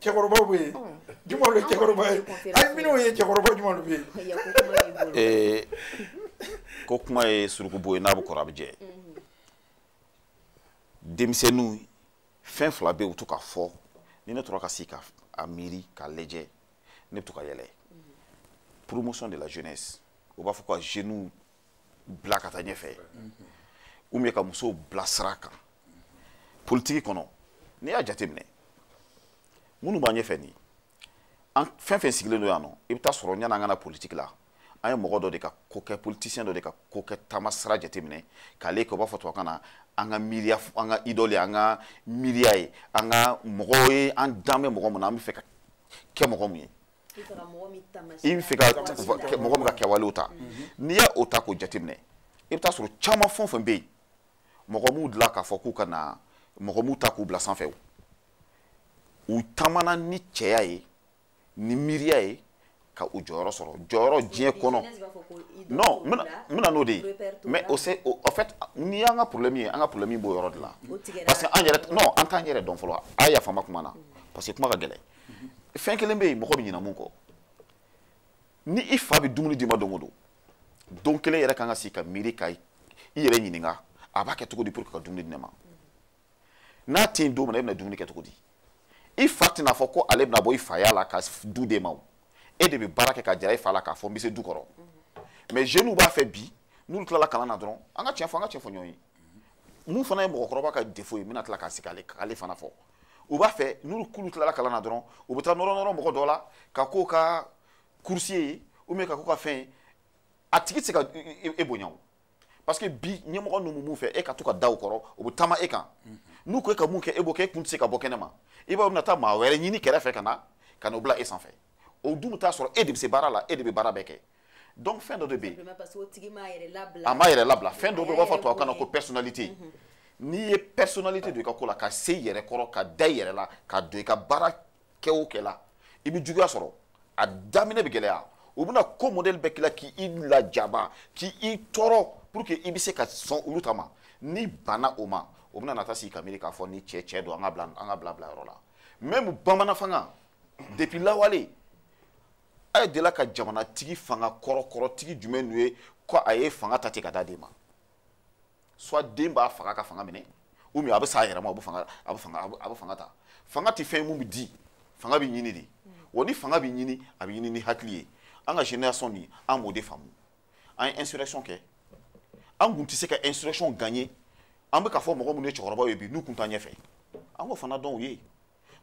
cɛkɔrɔbaw bɛ yen jumɛn le cɛkɔrɔba ye ayi minnu ye cɛkɔrɔba jumɛn le bɛ yen. Eh, ko kuma ye suruku bo ye n'a bɛ kɔrɔ a bɛ jɛ denmisɛnninw fɛn fila bɛ yen u bɛ to k'a fɔ ni ne tora ka sigi ka miiri k'a lajɛ ne bɛ to ka yɛlɛ promotion de la jeunesse u b'a fɔ ko ka jeunes bila ka taa ɲɛfɛ ou bien ka musow bila sira kan politiki kɔnɔ n'i y'a jateminɛ minnu b'an ɲɛfɛ nin an fɛn fɛn sigilen don yan nɔ i bɛ taa sɔrɔ yanni an ka na politiki la an ye mɔgɔ dɔ de ka ko kɛ politicien dɔ de ka ko kɛ taama sira jateminɛ k'ale kɛ u b'a fɔ tubabukan na an ka miiriya an ka idole an ka miiriya ye an ka mɔgɔw ye an dan bɛ mɔgɔ min na an bɛ fɛ ka kɛ mɔgɔ min ye i bɛ fɛ ka mɔgɔ min ka kɛwalew ta n'i y'a o ta k'o jateminɛ i bɛ t'a sɔrɔ caman fɛn o fɛn bɛ yen mɔgɔ m'u dilan k'a fɔ k'u ka na mɔgɔ m'u ta k'u bila sanfɛ o u taamana ni cɛya ye ni miiriya ye ka u jɔyɔrɔ sɔrɔ jɔyɔrɔ diɲɛ kɔnɔ non n bɛna n'o de ye mais o se en fait n'i y'an ka problème ye an ka problème b'o yɔrɔ de la parce que an yɛrɛ non an t'an yɛrɛ dɔn fɔlɔ a yafa n ma kuma na parce que kuma ka gɛlɛn fɛn kelen bɛ yen mɔgɔ bɛ ɲinɛ mun kɔ ni i fa bɛ dumuni d'i ma don o don don kelen yɛrɛ kan ka sigi ka miiri ka i yɛrɛ ɲininka a b'a kɛ cogo di pour que ka dumuni di ne ma n'a tɛ yen don min na e bɛna dumuni kɛ cogo di i fa tɛna fɔ ko ale bɛna bɔ i faya la ka du d'e ma o e de bɛ baara kɛ k'a jira i fa la k'a fɔ n bɛ se du kɔrɔ mais jeunes b'a fɛ bi n'olu tilala kalan na dɔrɔn an ka tiɲɛ fɔ an ka tiɲɛ fɔ ɲɔgɔn ye mun fana ye mɔgɔkɔrɔba ka défaut ye n bɛna tila ka sigi k'ale fana fɔ u b'a fɛ n'olu kulu tilala kalan na dɔrɔn u bɛ taa nɔrɔ nɔrɔ mɔgɔ dɔ la ka k'o ka coursier ye ou bien ka k'o ka fɛn ye a tigi tɛ se ka e bonya o parce que bi ɲɛmɔgɔ ninnu b'o fɛ e ka to ka da u kɔrɔ u bɛ taama e kan n'u ko e ka mun kɛ e b'o kɛ e kun tɛ se ka bɔ kɛnɛ ma i b'a ye u bɛna taa maa wɛrɛ ɲini kɛrɛfɛ ka na ka n'o bila e sanfɛ o dun bɛ t'a sɔrɔ e de bɛ se baara la e de bɛ baara bɛɛ kɛ donc fɛn dɔ de bɛ yen a m'a yɛrɛ labila fɛn dɔ bɛ yen u b'a fɔ tubabukan na ko personnalité mhm. n'i ye personnalité don i ka ko la ka se i yɛrɛ kɔrɔ ka da i yɛrɛ la ka don i ka baara kɛ o kɛ la i bɛ juguya sɔrɔ a daminɛ bɛ gɛlɛya u bɛna ko modèle bɛɛ k'i la k'i lajaba k'i tɔɔrɔ pour que i bɛ se ka sɔn olu ta ma n'i banna o ma o bɛna na taa sigi ka miiri k'a fɔ nin cɛ cɛ don an k'a bila an k'a bila bila yɔrɔ la même bamananfanga depuis lawale a ye delila ka jamanatigi fanga kɔrɔkɔrɔtigi jumɛn de ye ko a ye fanga ta ten k'a d'a den ma soit den b'a faga ka fanga minɛ ou bien a bɛ sa a yɛrɛ ma a bɛ fanga a bɛ fanga a bɛ fanga ta fanga tɛ fɛn ye mun bɛ di fanga bɛ ɲini de wa ni fanga bɛ ɲini a bɛ ɲini ni hakili ye an ka génération nin an b'o de faamu an ye insurrection kɛ an kun tɛ se ka insurrection gagner an bɛ ka fɔ mɔgɔ minnu ye cɛkɔrɔbaw ye bi n'u kun t'an ɲɛfɛ an k'o fana dɔn u ye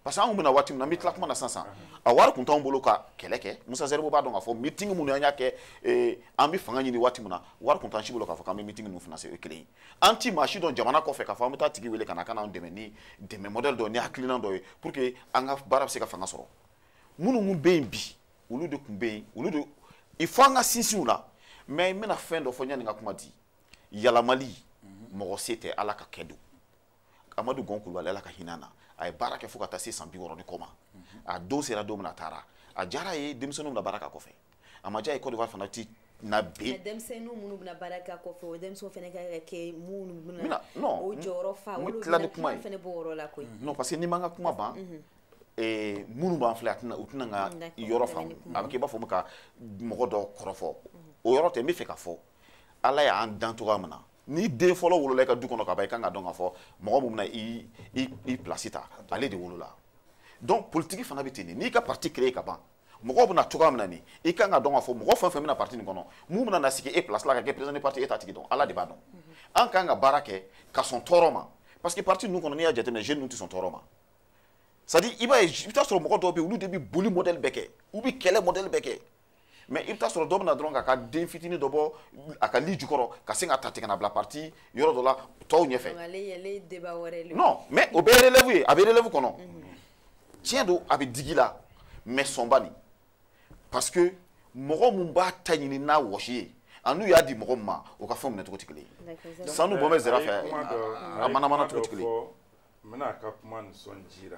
parce que anw bɛna waati min na n bɛ tila kuma na sisan sisan a wari kun t'anw bolo ka kɛlɛ kɛ musa zɛribo b'a dɔn k'a fɔ meeting minnu an y'a kɛ eh, an bɛ fanga ɲini waati min na wari kun t'an si bolo k'a fɔ k'an bɛ meeting ninnu financer o ye kelen ye an ti maa si dɔn jamana kɔfɛ k'a fɔ an bɛ t'a tigi wele ka na ka n'an dɛmɛ ni dɛmɛ modèle dɔ ni hakilinan dɔ ye pour que an ka baara bɛ se ka fanga sɔrɔ minnu minnu bɛ yen bi olu de kun bɛ yen olu de il faut an ka sinsin u la mais n bɛna fɛn dɔ fɔ yanni n ka kuma di yɛlɛmali mɔgɔ se tɛ ala ka kɛ don amadu gɔn kulubali ala ka hinɛ na a ye baara kɛ fo ka taa se san bi wɔɔrɔ ni kɔ ma a don sera don min na a taara a diyara a ye denmisɛnninw bɛna baara k'a kɔfɛ a ma diya a ye côte d'ivoire fana ti na bin denmisɛnninw minnu bɛna baara k'a kɔfɛ o denmisɛnw fana ka kɛ minnu bɛna o jɔyɔrɔ fa olu tila ni kuma ye fana b'o yɔrɔ la koyi non parce que n'i man ka kuma ban mhm. eh, minnu b'an filɛ a tɛna u tɛna n ka yɔrɔ faamu a bɛ kɛ i b'a fɔ ka mɔgɔ dɔ kɔrɔfɔ mhm. o yɔrɔ tɛ n b'a fɛ ka fɔ ala y'an dan cogoya min na ni den fɔlɔ wolola i ka du kɔnɔ ka ban i kan ka dɔn k'a fɔ mɔgɔ min bɛna i i i pilasi ta ale de wolola donc politiki fana bɛ ten de n'i ka parti créé ka ban mɔgɔw bɛ na cogoya min na nin i kan ka dɔn k'a fɔ mɔgɔ fɛn fɛn bɛ na parti nin kɔnɔ min bɛna na sigi e pilasi la ka kɛ président de parti e t'a tigi dɔn ala de b'a dɔn an kan ka baara kɛ ka sɔn tɔɔrɔ ma parce que parti ninnu kɔnɔ n'i y'a jateminɛ jeune ninnu tɛ sɔn tɔɔrɔ ma c'est à dire i b'a ye i bɛ taa sɔrɔ mɔgɔ dɔw bɛ yen olu de bɛ boli modèle bɛɛ kɛ u bɛ kɛlɛ modèle bɛɛ kɛ mais i bɛ taa sɔrɔ dɔ bɛ na dɔrɔn k'a ka den fitinin dɔ bɔ a ka lit jukɔrɔ ka sin k'a ta ten ka n'a bila parti yɔrɔ dɔ la tɔw ɲɛfɛ non mais o bɛ relève ye a bɛ relève kɔnɔ tiɲɛ don a bɛ digi i la mais sɔnba nin parce que mɔgɔ min b'a ta ɲini n'a wɔsi ye an'u y'a di mɔgɔ min ma o ka fɛn minɛ cogo tɛ kelen ye sanu bɔ bɛ zira fɛ a manamana cogo tɛ kelen ye n bɛna a ka kuma nisɔn jira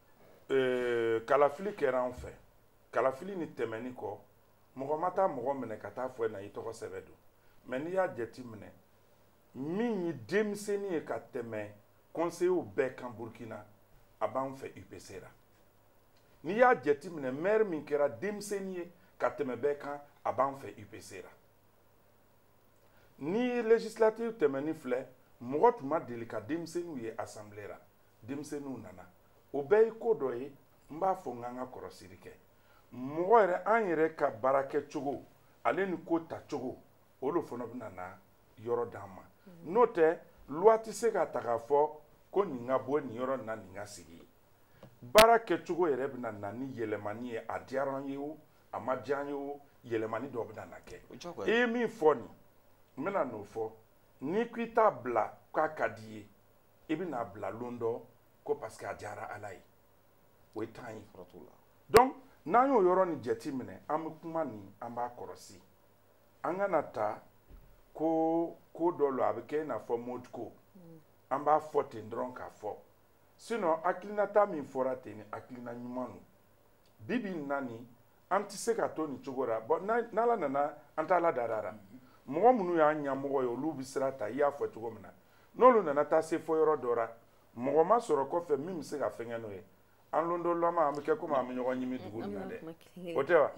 ee, kalafili kɛra an fɛ kalafili nin tɛmɛnin kɔ mɔgɔ ma taa mɔgɔ minɛ ka taa fɔ na i tɔgɔ sɛbɛ don mais n'i y'a jati minɛ min ye denmisɛnnin ye ka tɛmɛ kɔnseyew bɛɛ kan burkina a b'an fɛ upc ra n'i y'a jati minɛ maire min kɛra denmisɛnnin ye ka tɛmɛ bɛɛ kan a b'an fɛ upc ra ni législative tɛmɛnin filɛ mɔgɔ tun ma deli ka denmisɛnninw ye assemblée ra denmisɛnninw nana o bɛɛ ye ko dɔ ye n b'a fɔ n k'an ka kɔrɔsiri kɛ mɔgɔ yɛrɛ an yɛrɛ ka baara kɛ cogo ale ni ko ta cogo o lo fana bɛna na yɔrɔ d'an ma mm. n'o tɛ luwa tɛ se ka ta k'a fɔ ko nin ka bɔ nin yɔrɔ na nin ka sigi baara kɛcogo yɛrɛ bɛna na ni yɛlɛmani ye a diyara an ye o a ma diya an ye o yɛlɛmani dɔ bɛna na kɛ i ye min fɔ nin n bɛna n'o fɔ n'i ko i t'a bila k'a ka di i ye i bɛn'a bila lon dɔ ko parce que a diyara ala ye o ye tan ye donc n'an y'o yɔrɔ nin jate minɛ an bɛ kuma nin an b'a kɔrɔsi an kan'a ta ko ko dɔ lo a bɛ kɛ i n'a fɔ mode ko mm. an b'a fɔ ten dɔrɔn k'a fɔ sinon hakilinata min fɔra ten ni hakilina ɲuman lo bi bi in na nin an tɛ se ka to nin cogo la bon n'ala nana an t'a la darara mɔgɔ minnu y'an ɲɛmɔgɔ ye olu bɛ sira ta i y'a fɔ cogo min na n'olu nana taa se fɔ yɔrɔ dɔ la mɔgɔ ma sɔrɔ kɔfɛ min bɛ se ka fɛngɛ n'o ye an londolama an bɛ kɛ komi an bɛ ɲɔgɔn ɲimi dugu nin na dɛ o tɛ wa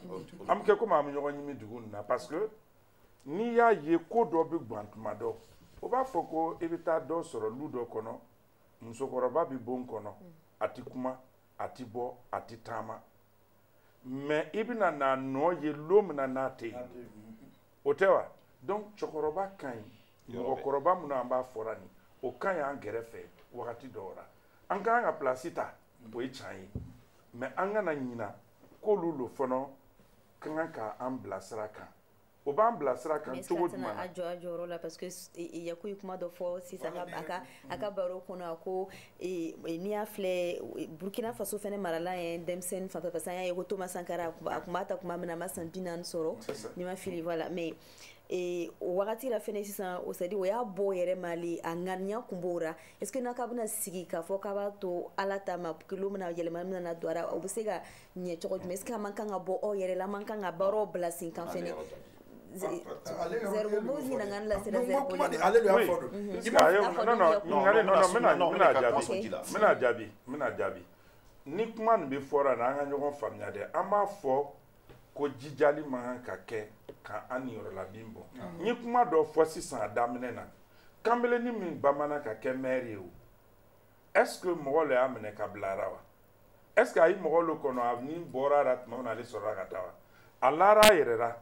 an bɛ kɛ komi an bɛ ɲɔgɔn ɲimi dugu nin na parce que n'i y'a ye ko dɔ bɛ gan tuma dɔ o b'a fɔ ko i bɛ taa dɔ sɔrɔ lu dɔ kɔnɔ musokɔrɔba bɛ bon kɔnɔ a tɛ kuma a tɛ bɔ a tɛ taama mais i bɛna n'a nɔ ye lon min na n'a tɛ yen o tɛ wa donc cɛkɔrɔba ka ɲi mɔgɔkɔrɔba minnu an b'a fɔra nin o ka ɲi an gɛrɛfɛ wagati dɔw la an ka kan ka pilasi ta o ye can ye mais an kana ɲina k'olu lo fana ka kan ka an bila sira kan o b'an bila sira kan cogo jumɛn a jɔ a jɔyɔrɔ la parce que yaku ye kuma dɔ fɔ sisan a ka a ka baro kɔnɔ a ko n'i y'a filɛ burkina faso fɛnɛ marala ye denmisɛnnin fanfɛ parce que an y'a ye ko thomas sankara a kun b'a ta kuma min na a ma san bi naani sɔrɔ ni n ma fili voilà mais e, o wagati la fɛnɛ sisan o c'est à dire o y'a bɔ yɛlɛmali a ŋaniya kun b'o ra est ce que n'a k'a bɛna sigi k'a fɔ k'a b'a to ala ta ma k'ale lo mina yɛlɛma mina na don a ra o be se ka ɲɛ cogo jumɛn est ce que a man kan ka bɔ aw yɛrɛ la a man kan ka baaraw bila sen kan fɛnɛ zerbo ɲininkali lasera zerbo le ma ale de y'a fɔ don i b'a fɔ non non ɲininkali non non bɛna bɛna jaabi bɛna jaabi bɛna jaabi ni kuma nin bɛ fɔra na an ka ɲɔgɔn faamuya dɛ an m'a fɔ ko jijali man kan ka kɛ ka an niyɔrɔ labin bon n ye kuma dɔ fɔ sisan a daminɛ na kanbelenni min banbanna ka kɛ mɛri ye o est ce que mɔgɔ le y'a minɛ k'a bila a ra wa est ce que a ye mɔgɔ lo kɔnɔ a ni bɔra a la tuma min na ale sɔrɔla ka taa wa a lara a yɛrɛ la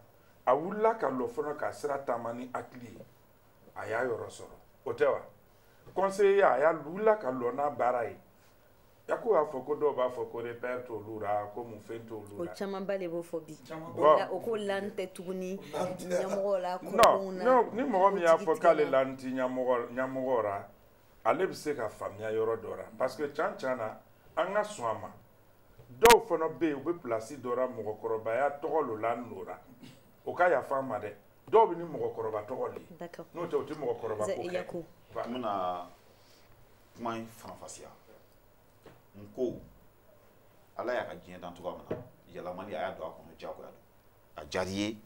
a wulila ka lɔ fana k'a sira taama ni hakili ye a y'a yɔrɔ sɔrɔ o tɛ wa conseillerya a wulila ka lɔ n'a baara ye yaku y'a fɔ ko dɔw b'a fɔ ko repère t'olu ra ko mun fɛn t'olu ra o camanba de b'o fɔ bi o ko lan tɛ tuguni ɲɛmɔgɔ la non non ni mɔgɔ min y'a fɔ k'ale lan ti ɲɛmɔgɔ ɲɛmɔgɔw ra ale bɛ se ka faamuya yɔrɔ dɔ la parce que can can na an ka sɔn a ma dɔw fana bɛ yen u bɛ pilasi dɔ la mɔgɔkɔrɔbaya tɔgɔ lo lan o la o ka yafa an ma dɛ dɔw bɛ ni mɔgɔkɔrɔba tɔgɔ de ye n'o tɛ o tɛ mɔgɔkɔrɔba ko kɛ n bɛna kuma in faranfasiya n ko ala y'a ka diɲɛ dan cogoya min na yɛlɛmani a y'a don a kɔnɔ diyagoya don a diyara i ye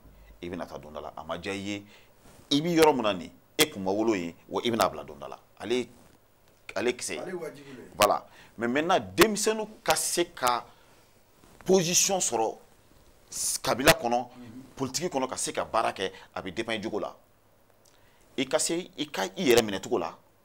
i bɛna taa don dɔ la a ma diya i ye i bɛ yɔrɔ min na nin e kun ma wolo yen wa i bɛn'a bila don dɔ la ale ale kisɛ ye voilà mais maintenant denmisɛnninw ka se ka position sɔrɔ kabila kɔnɔ mhm. politiki kɔnɔ ka se ka baara kɛ a bɛ dépend i jogo la i ka se i ka i yɛrɛ minɛ cogo la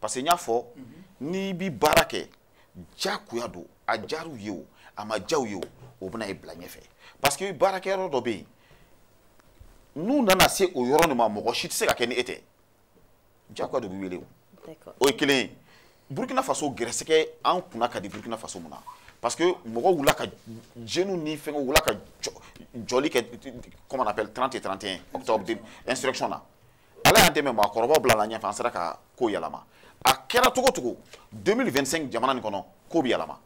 parce que n y'a fɔ n'i bi baara kɛ diyagoya don a diyara u ye o a ma diya u ye o o bɛna e bila ɲɛfɛ parce que baarakɛyɔrɔ dɔ bɛ yen n'u nana se o yɔrɔ nin ma mɔgɔ si tɛ se ka kɛ ni e tɛ diyagoya de bɛ wele o o ye kelen ye burkina faso gɛrɛsɛgɛ an kunna ka di burkina faso mun na parce que mɔgɔw wulila ka jeunes ni fɛngɛw wulila ka jɔli kɛ comment on appelle 30 et 31 octobre insurrection na ala y'an dɛmɛ maakɔrɔbaw bilala ɲɛfɛ an sera ka ko yɛlɛma a kɛra cogo cogo 2025 jamana nin kɔnɔ ko bɛ yɛlɛma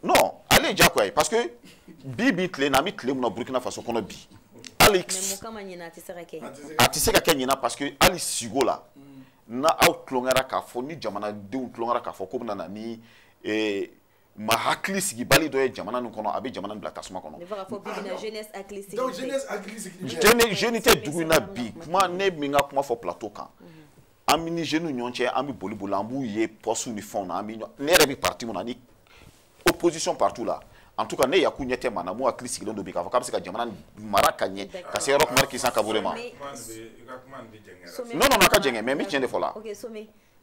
non ale ye diyagoya ye parce que bi bi tile na an bɛ tile mun na burkina faso kɔnɔ bi hali a tɛ se ka kɛ ɲinan parce que hali sigo la n'aw tulonkɛra k'a fɔ ni jamanadenw tulonkɛra k'a fɔ k'u bɛna na ni eh, maa hakili sigibali dɔ ye jamana nin kɔnɔ a bɛ jamana bila tasuma kɔnɔ jeune tɛ dugu in na bi kuma ne bɛ n ka kuma fɔ plateau kan an bɛ ni jeunes ɲɔgɔn cɛ an bɛ boli boli an b'u ye poste ni fɛnw na an bɛ ne yɛrɛ bɛ parti mun na ni opposition partout la en tout cas ne yaku ɲɛ tɛ maa na mun hakili sigilen don bi k'a fɔ k'a bɛ se ka jamana mara ka ɲɛ ka se roch marc christian kabore ma non non a ka jɛngɛ mais n bɛ tiɲɛ de fɔ la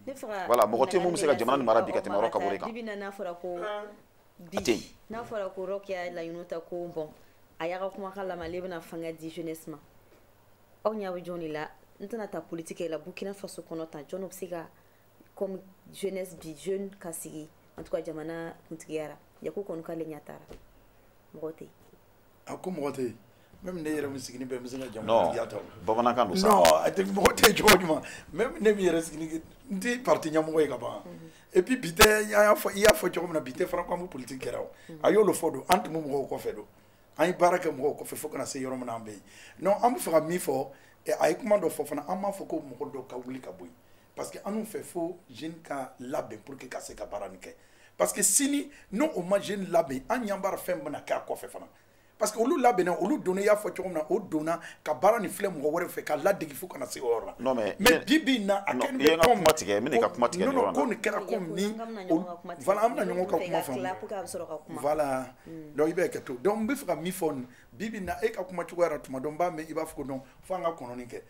ne faga voilà mɔgɔ tɛ mun bɛ se ka jamana nin mara bi ka tɛmɛ roch kabore kan bibi n'a fɔra ko bi n'a fɔra ko roch y'a laɲini ta ko bon a y'a ka kumakan lamɛn ale bɛna fanga di jeunesse ma aw ɲɛ bɛ jɔn de la n tɛna taa politique la burkina faso kɔnɔ tan jɔn bɛ se ka comme jeunesse bi jeune ka sigi en tout cas jamana kuntigiya la yaku kɔni k'ale ɲɛ t'a ra mɔgɔ tɛ yen a ko mɔgɔ tɛ yen même ne yɛrɛ min sigilen bɛ n bɛ se ka jamana ta bamanankan don sa non a tɛ mɔgɔ tɛ cogo ɲuman même ne min yɛrɛ sigilen n tɛ parti ɲɛmɔgɔ ye ka ban et puis bi tɛ an y'a fɔ i y'a fɔ cogo min na bi tɛ fana ko an bɛ politique kɛra o a y'olu fɔ don an tun bɛ mɔgɔw kɔfɛ don an ye baara kɛ mɔgɔw kɔfɛ fo ka na se yɔrɔ min na an bɛ yen non an bɛ fɛ ka min fɔ a ye kuma dɔ fɔ fana an m'a fɔ ko mɔgɔ dɔ ka wuli ka bɔ yen parce que an b'a fɛ fo jeune ka labɛn pour que ka se ka baara nin kɛ parce que sini n'o o ma jeune labɛn an ɲɛ b'a ra fɛn bɛna kɛ a kɔfɛ fana parce que olu labɛnna olu donna i y'a fɔ cogo min na o donna ka baara nin filɛ mɔgɔ wɛrɛ fɛ ka ladege fo ka na se o yɔrɔ la non mais mais bi bi na a kɛ nin ko kuma tigɛ n b'i ka kuma tigɛ non non ko nin kɛra ko ni voilà an bɛna ɲɔgɔn ka kuma faamu voilà hmm. donc i bɛ hakɛ to donc n bɛ fɛ ka min fɔ nin bi bi na e ka kuma cogoya la tuma dɔ n b'a mɛn i b'a fɔ ko non fo an ka kɔnɔni kɛ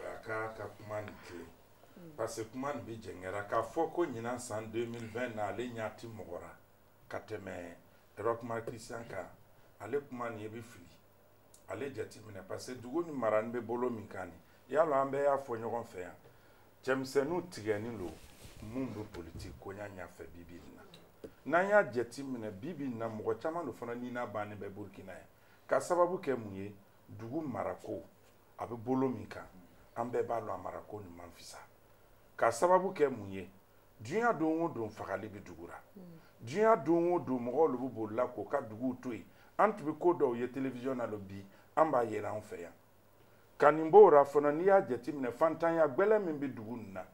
a k'a ka kuma nin tilen parce que kuma nin bɛ jɛngɛra k'a fɔ ko ɲinan san 2020 na ale ɲɛ ti mɔgɔ ra ka tɛmɛ Roch Marc Christian kan ale kuma nin i bɛ fili ale jateminɛ parce que dugu nin mara nin bɛ bolo min kan nin yala an bɛɛ y'a fɔ ɲɔgɔn fɛ yan cɛmisɛnninw tigɛnin don mun bɛ politiki koɲa ɲɛfɛ bi bi in na n'an y'a jateminɛ bi bi in na mɔgɔ caman don fana ni n'a bannen bɛ Burkina yan ka sababu kɛ mun ye dugu marako a bɛ bolo min kan an bɛɛ b'a dɔn a marako nin man fisa k'a sababu kɛ mun ye diɲɛ don o don fagali bɛ dugu la diɲɛ don o don mɔgɔw de bɛ bolila k'o ka duguw to yen an tun bɛ ko dɔw ye telewisiyɔn na don bi an b'a yera an fɛ yan ka nin b'o la fana n'i y'a jateminɛ fantanya gbɛlɛ min bɛ dugu nin na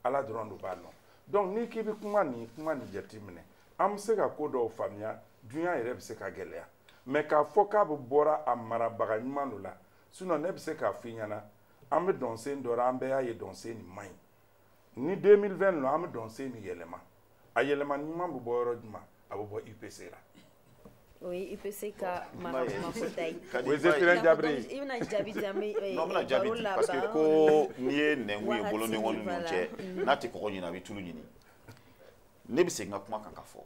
ala dɔrɔn de b'a dɔn donc n'i k'i bɛ kuma nin kuma nin jateminɛ an bɛ se ka ko dɔw faamuya dunya yɛrɛ bɛ se ka gɛlɛya mais k'a fɔ k'a bɛ bɔra a marabaga ɲuman dɔ la sinon ne bɛ se k'a f'i ɲɛna an bɛ dɔnsen dɔ la an bɛɛ y'a ye dɔnsen nin man ɲi ni 2020 don an bɛ dɔnsen nin yɛlɛma a yɛlɛma ɲuman bɛ bɔ yɔrɔ jumɛn a bɛ bɔ upc la o ye upc ka maramafota ye o ye zéphirin diabré ye i bɛna jaabi di an bɛ eh, non n bɛna jaabi di parce que ko n'i ye nɛnkun ye bolo ni ɲɔgɔn ninnu cɛ mm. n'a tɛ kɔgɔ ɲini a bɛ tulu ɲini ne bɛ segin ka kuma kan ka fɔ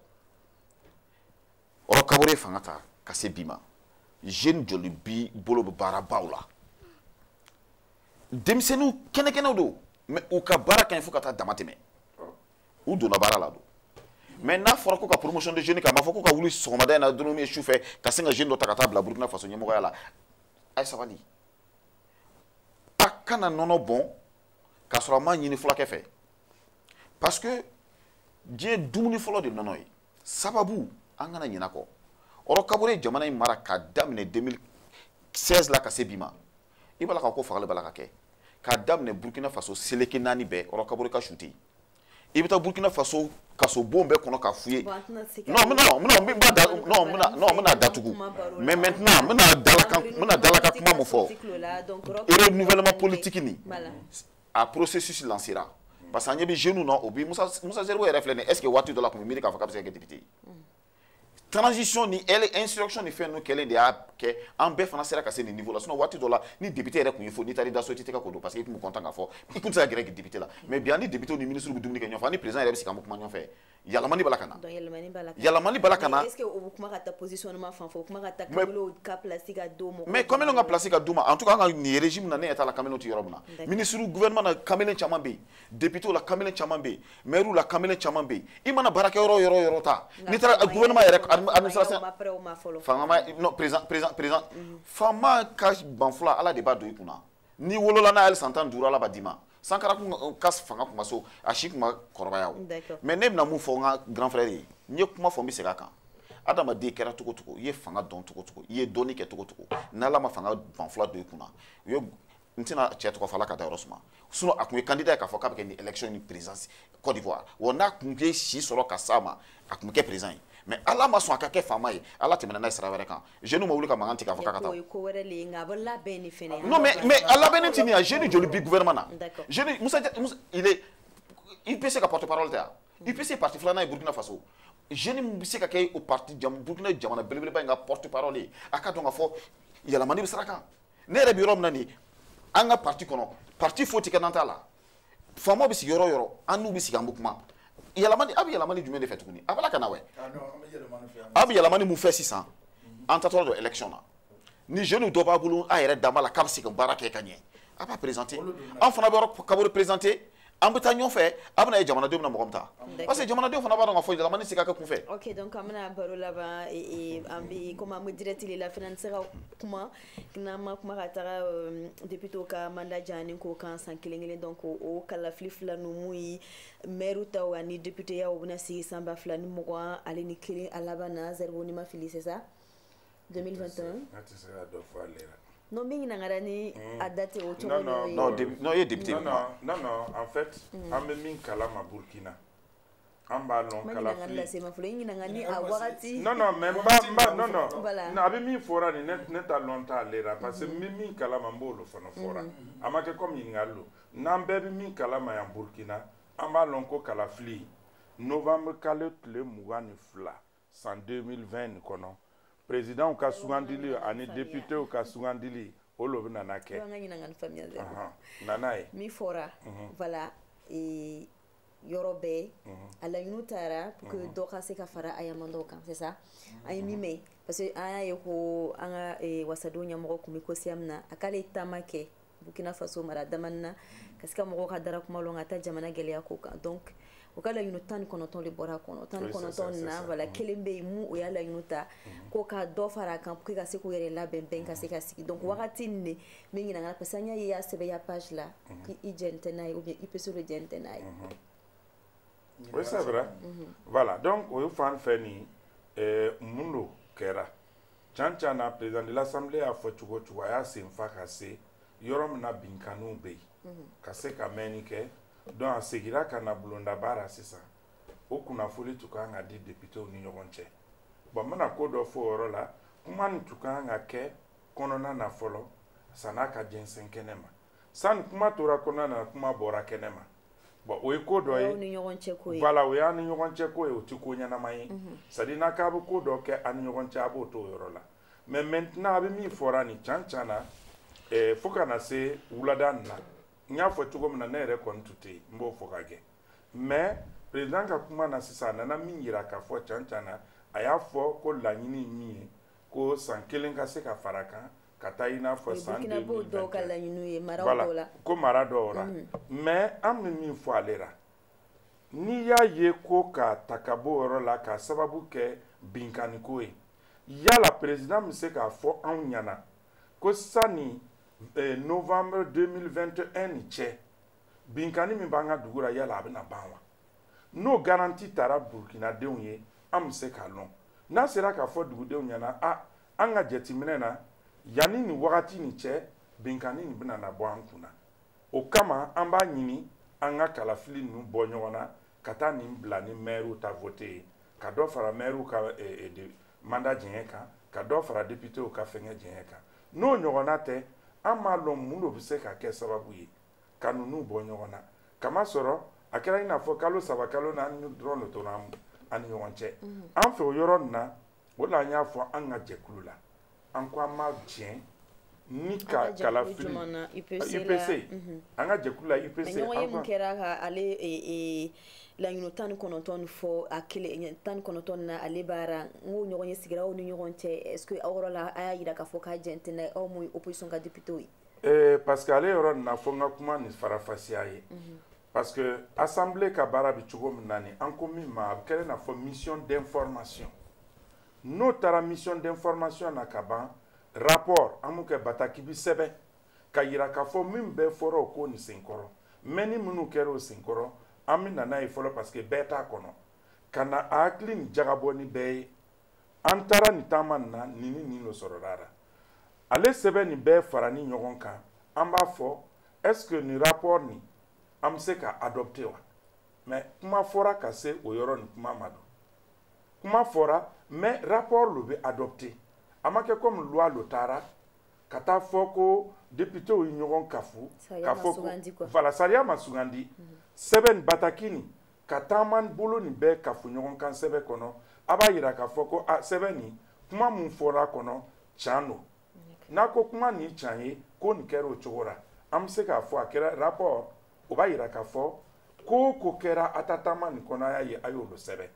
roch kabore fanga ta ka se bi ma jeune joli bi bolo bɛ baarabaw la denmisɛnninw kɛnɛkɛnɛw don mais u ka baara ka ɲi fo ka taa dama tɛmɛ u donna baara la don mais n'a fɔra ko ka promotion de jeune kɛ a ma fɔ ko ka wuli sɔgɔmada in na dɔrɔn ye sufɛ ka sin ka jeune dɔ ta ka taa bila burkina faso ɲɛmɔgɔya la a ye sabali a kana nɔnɔ bɔn k'a sɔrɔ a ma ɲini fulakɛ fɛ parce que diɲɛ dumuni fɔlɔ de nɔnɔ ye sababu an kana ɲina kɔ roch kabore ye jamana in mara k'a daminɛ 2016 la ka se bi ma i b'a la ka ko fagali b'a la ka kɛ k'a daminɛ burkina faso seleke naani bɛɛ roch kabore ka su tɛ yen i bɛ taa burkina faso kasobon bɛɛ kɔnɔ k'a f'u ye non non non non bɛna da non bɛna non bɛna datugu mais maintenant bɛna dalakan bɛna dalakan kuma mun fɔ renouvellement politique nin a processus lancera parce que an ɲɛ bɛ jeunes na o bi Musa Musa Zerbo yɛrɛ filɛ nin est ce que waati dɔ la a tun bɛ miiri k'a fɔ k'a bɛ se ka kɛ député ye. transition ni insurrection ni fɛn ninnu kɛlen de y'a kɛ an bɛɛ fana sera ka se nin niveau la sinon waati dɔ la ni député yɛrɛ tun y'i fo n'i taara i da so i tɛ tɛgɛ ko don parce que i tun bɛ content k'a fɔ i tun tɛ se ka gɛrɛ député la mais bi an ni député ni ministre bɛ dumuni kɛ ɲɔgɔn fɛ an ni président yɛrɛ bɛ sigi an bɛ kuma ɲɔgɔn fɛ yɛlɛmani b'a la ka na yɛlɛmani b'a la ka na est ce que o bɛ kuma ka taa positionnement fan fɛ o kuma ka taa kamalenw ka place ka d'u ma mais kamalenw ka place ka d'u ma en tout cas an ka nin régime na ne ɲɛ t'a la kamalenw tɛ yɔrɔ min na ministre gouvernement na kamalen caman bɛ yen depitew la kamalen caman bɛ yen mɛriw la kamalen caman bɛ yen i mana baarakɛ yɔrɔ yɔrɔ yɔrɔ ta n'i taara gouvernement yɛrɛ administration fanga ma non président président président mhm. faama ka banfula ala de b'a don i kunna n'i wolola n'a ye san tan ni duuru ala b'a d'i ma sankara kun euh, ka fanga kun ma so a si kun ma kɔrɔbaya o mais ne bɛna mun fɔ n ka grand frère ye n ye kuma fɔ n bɛ segin a kan adamaden kɛra cogo cogo i ye fanga dɔn cogo cogo i ye dɔnni kɛ cogo cogo n'ala ma fanga banfula don i kunna u ye n tɛna cɛ tɔgɔ fɔ ala k'a dayɔrɔ suma sinon a tun ye candidat ye k'a fɔ k'a bɛ kɛ ni élection ni présidence Côte d'Ivoire wa n'a tun ye si sɔrɔ ka s'a ma a tun bɛ kɛ président ye mais ala ma sɔn a ka kɛ faama ye ala tɛmɛna n'a ye sira wɛrɛ kan jeune ma wuli ka mankan tigɛ k'a fɔ k'a ka taa non mais mais a labɛnnen tɛ nin ye jeune joli bi gouvernement na jeune musa musa il est UPC ka porte parole tɛ wa UPC parti filanan ye burkina faso jeune min bɛ se ka kɛ o parti burkina jamana belebeleba in ka porte parole ye a k'a dɔn k'a fɔ yɛlɛmani bɛ sira kan ne yɛrɛ bɛ yɔrɔ min na nin an ka parti kɔnɔ parti foyi tɛ kɛ n'an t'a la faamaw bɛ sigi yɔrɔ o yɔrɔ an n'u bɛ sigi an bɛ kuma yɛlɛmani a bɛ yɛlɛmani jumɛn de fɛ tuguni a banna ka na wɛ a bɛ yɛlɛmani mun fɛ sisan an taatɔla don élection na ni jeune dɔ b'a bolo a yɛrɛ dama la k'a bɛ se ka baara kɛ ka ɲɛ a b'a présenter an fana bɛ Roch Kaboré présenter an bɛ taa ɲɔgɔn fɛ a bɛna ye jamanadenw bɛna mɔgɔ min ta parce que jamanadenw fana b'a dɔn k'a fɔ yɛlɛmani tɛ se ka kɛ kun fɛ. ok donc an bɛna baro laban e, e, an bɛ komi an bɛ direct de la fana an tɛ se ka kuma n'an ma kuma ka taga euh, député ka mandat janyani ko kan san kelen kelen donc o kalafili fila ninnu mun ye maire taw ani député yaw bɛna sigi san ba fila ni mugan ale ni kelen a laban na Zerbo ni n ma fili c'est ça. 2021 a tɛ se ka dɔ fɔ ale la non min ɲininkara ni hmm. a date o cogo n'o ye non e ye député non non non en fait hmm. an bɛ min kalama Burkina an b'a lɔn kalafili non non mais n b'a n b'a non non a bɛ min fɔra nin ne ta lɔn t'ale la parce que n bɛ min kalama n b'o lo fana fɔra hmm. a ma kɛ comme ɲininkali lo n'an bɛɛ bɛ min kalama yan Burkina an b'a lɔn ko kalafili novembre kalo tile mugan ni fila san 2020 nin kɔnɔ présidentw ka sugandili ani députéw ka sugandili o lo bɛna na kɛ nana ye min fɔra mhm. voilà e, yɔrɔ bɛɛ mhm. a laɲiniw tara pour que mhm. dɔ ka se ka fara a ya mandatw kan c'est ça an ye min mɛn parce que an y'a ye ko an ka e, wasadenw ɲɛmɔgɔ tun bɛ kosiyam na a k'ale taama kɛ burkina faso mara damani na ka se ka mɔgɔw ka dara kuma lɔn ka taa jamana gɛlɛya ko kan donc u ka laɲinu tan ni kɔnɔntɔn de bɔra kɔnɔ tan ni kɔnɔntɔn na voilà mm. kelen bɛ yen mu o y'a laɲinu ta mm. ko ka dɔ fara a kan pour que ka se k'u yɛrɛ labɛn ka se ka sigi donc mm. wagati nin de min ɲinagana parce que an y'a ye i y'a sɛbɛn i ya page la k'i i jɛnnen tɛ n'a ye ou bien UPC de jɛnnen tɛ n'a ye mm-hmm. oui c'est vrai mm-hmm. voilà donc o fan fɛ nin mun lo kɛra can can na président de l'assemblée y'a fɔ cogo cogo a y'a sen fa ka se yɔrɔ min na binkanniw bɛ yen ka se ka mɛnni kɛ donc a segira ka na bulondaba la sisan o kunnafoni tun kan ka di députéw ni ɲɔgɔn cɛ bon n bɛna ko dɔ fɔ o yɔrɔ la kuma nin tun kan ka kɛ kɔnɔna na fɔlɔ san'a ka jɛnsɛn kɛnɛ ma sani kuma tora kɔnɔna na kuma bɔra kɛnɛ ma bon o ye ko dɔ ye voilà o y'an ni ɲɔgɔn cɛ ko ye o tɛ ko ɲɛnama ye mhm. c'est à dire n'a k'a bɛ ko dɔ kɛ an ni ɲɔgɔn cɛ a b'o to o yɔrɔ la mais maintenant a bɛ min fɔra nin can can na eh, fo ka na se wulada nin na n y'a fɔ cogo min na ne yɛrɛ kɔni tun tɛ yen n b'o fɔ ka gɛ mais président ka kuma na sisan a nana min yira k'a fɔ can can na a y'a fɔ ko laɲini ye min ye ko san kelen ka se ka fara kan ka taa i n'a fɔ san 2021 voilà ko mara dɔw la mm. mais an bɛ min fɔ ale la n'i y'a ye ko k'a ta ka bɔ o yɔrɔ la k'a sababu kɛ binkanniko ye yala président bɛ se k'a fɔ anw ɲɛna ko sani eh, novembre 2021 ni cɛ binkanni min b'an ka dugu la yala a bɛna ban wa n'o garanti tara burukinadenw ye an bɛ se k'a lɔn n'a sera k'a fɔ dugudenw ɲɛna a an ka jateminɛ na yanni nin wagati nin cɛ binkanni nin bɛna na bɔ an kun na o kama an b'a ɲini an ka kalafili ninnu bɔ ɲɔgɔn na ka taa nin bila ni mɛriw ta vote ye ka dɔ fara mɛriw ka eh, eh, de, mandat jɛɲɛ kan ka dɔ fara depitew ka fɛngɛ jɛɲɛ kan n'o ɲɔgɔnna tɛ an m'a lɔn mun lo bɛ se ka kɛ sababu ye ka ninnu bɔ ɲɔgɔn na k'a masɔrɔ a kɛra i n'a fɔ kalo saba kalo naani dɔrɔn de tora an ni ɲɔgɔn cɛ an fɛ o yɔrɔ nin na o la an y'a fɔ an ka jɛkulu la an ko an ma jɛn ni ka kalafili UPC mhm. an ka jɛkulu la UPC an ɲɔgɔnye min kɛra ka ale e, e, laɲini tan ni kɔnɔntɔn fɔ a kelen tan ni kɔnɔntɔn na ale baara n ko ɲɔgɔnye sigira aw ni ɲɔgɔn cɛ est ce que aw yɔrɔ la a y'a yira k'a fɔ k'a jɛn tɛ n'a ye aw min ye opposition ka député ye. Eh, parce que ale yɔrɔ nin na fo n ka kuma ni faranfasiya ye. Mm -hmm. parce que assemblée ka baara bɛ cogo min na nin an ko min ma a bɛ kɛra i n'a fɔ mission d'information n'o taara mission d'information na ka ban rapport an b'o kɛ bataki bi sɛbɛn k'a yira k'a fɔ min bɛɛ fɔra o ko nin senkɔrɔ mɛnni minnu kɛra o senkɔrɔ an bɛ na n'a ye fɔlɔ parce que bɛɛ t'a kɔnɔ ka na a hakili nin jagabɔ ni bɛɛ ye an taara nin taama nin na nin ni nin lo sɔrɔla la ale sɛbɛn nin bɛɛ faranin ɲɔgɔn kan an b'a fɔ est ce que nin rapport nin an bɛ se ka adopter wa mais kuma fɔra ka se o yɔrɔ nin kuma ma don kuma fɔra mais rapport lo bɛ adopter a ma kɛ comme loi lo taara ka t'a fɔ ko députés ye ɲɔgɔn kafu ka fɔ ko voilà sariya ma sugandi sɛbɛn bataki nin ka taamabolo nin bɛɛ kafo ɲɔgɔn kan sɛbɛn kɔnɔ a b'a yira k'a fɔ ko a sɛbɛn nin kuma min fɔra a kɔnɔ can don n'a ko kuma nin can ye ko nin kɛra o cogo la an bɛ se k'a fɔ a kɛra rapport o b'a yira k'a fɔ ko o ko kɛra a ta taama nin kɔnɔ a y'a ye a y'o lo sɛbɛn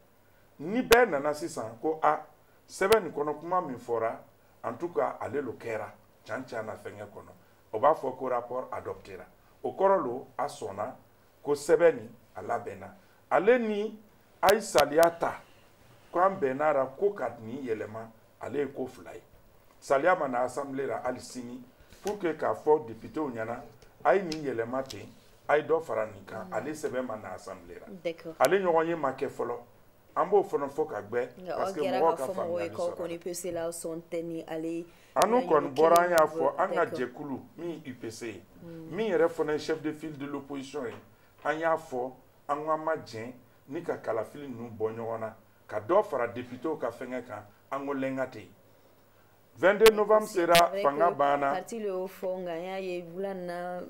ni bɛɛ nana sisan ko a sɛbɛn nin kɔnɔ kuma min fɔra en tout cas ale lo kɛra can can na fɛnkɛ kɔnɔ o b'a fɔ ko rapport adoptera o kɔrɔ lo a sɔnna ko sɛbɛn nin a labɛnna ale ni a ye saliya ta ko an bɛnna a la ko ka nin yɛlɛma ale ye ko fila ye saliya ma na assemblée la hali sini pour que k'a fɔ députéw ɲɛna a ye nin yɛlɛma ten a ye dɔ fara nin kan ale sɛbɛn ma na assemblée la ale ɲɔgɔn ye ma kɛ fɔlɔ an b'o fana fɔ ka gbɛ parce que mɔgɔw ka faamuyali sɔrɔ anu kɔni bɔra an y'a fɔ an ka jɛkulu min ye UPC ye mm. min yɛrɛ fana ye chef de file de l'opposition ye an y'a fɔ an k'an ma jɛn ni ka kalafili ninnu bɔ ɲɔgɔn na ka dɔ fara députéw ka fɛngɛ kan an ko lenga tɛ yen 22 novembre sera fanga banna parti le y'o fɔ nka an y'a ye wula in na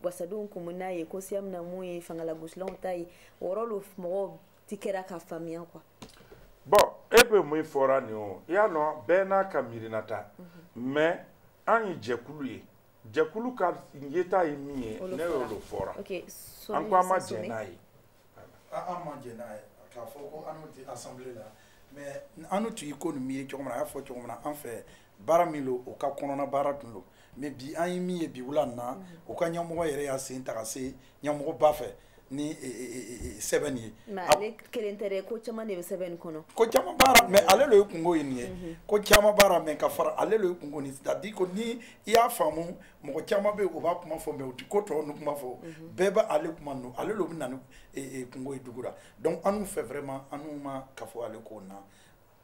wasadenw kun bɛ n'a ye ko siya min na mun ye fangalagosilanw ta ye o yɔrɔ lo mɔgɔw ti kɛra ka faamuya quoi bon e bɛ mun fɔra nin o i y'a lɔn bɛɛ n'a ka miirinata mhm. mais an ye jɛkulu ye jɛkulu ka yeta ye min ye ne y'o lo fɔra an ko an ma jɛn n'a ye an ma jɛn n'a ye k'a fɔ ko anu tɛ assemblée la mais anu tun ye ko nin miiri cogo min na a y'a fɔ cogo min na an fɛ baara min lo o ka kɔnɔna baara tun lo mais bi an ye min ye bi wula na o ka ɲɛmɔgɔ yɛrɛ y'a sen ta ka se ɲɛmɔgɔba fɛ ni sɛbɛn ye ale kelen tɛ ko caman de bɛ sɛbɛn kɔnɔ ko caman b'a ra mais ale lo ye kungo ye nin ye mhm. ko caman b'a ra mais ka fara ale lo ye kungo nin c'est-à-dire ko ni i y'a faamu mɔgɔ caman bɛ yen o b'a kuma fɔ mais o tɛ ko tɔw ni kuma fɔ mhm. bɛɛ bɛ ale kuma ninnu ale lo bɛ na ni kungo ye dugu la donc anu fɛ vraiment anu ma kafo ale ko na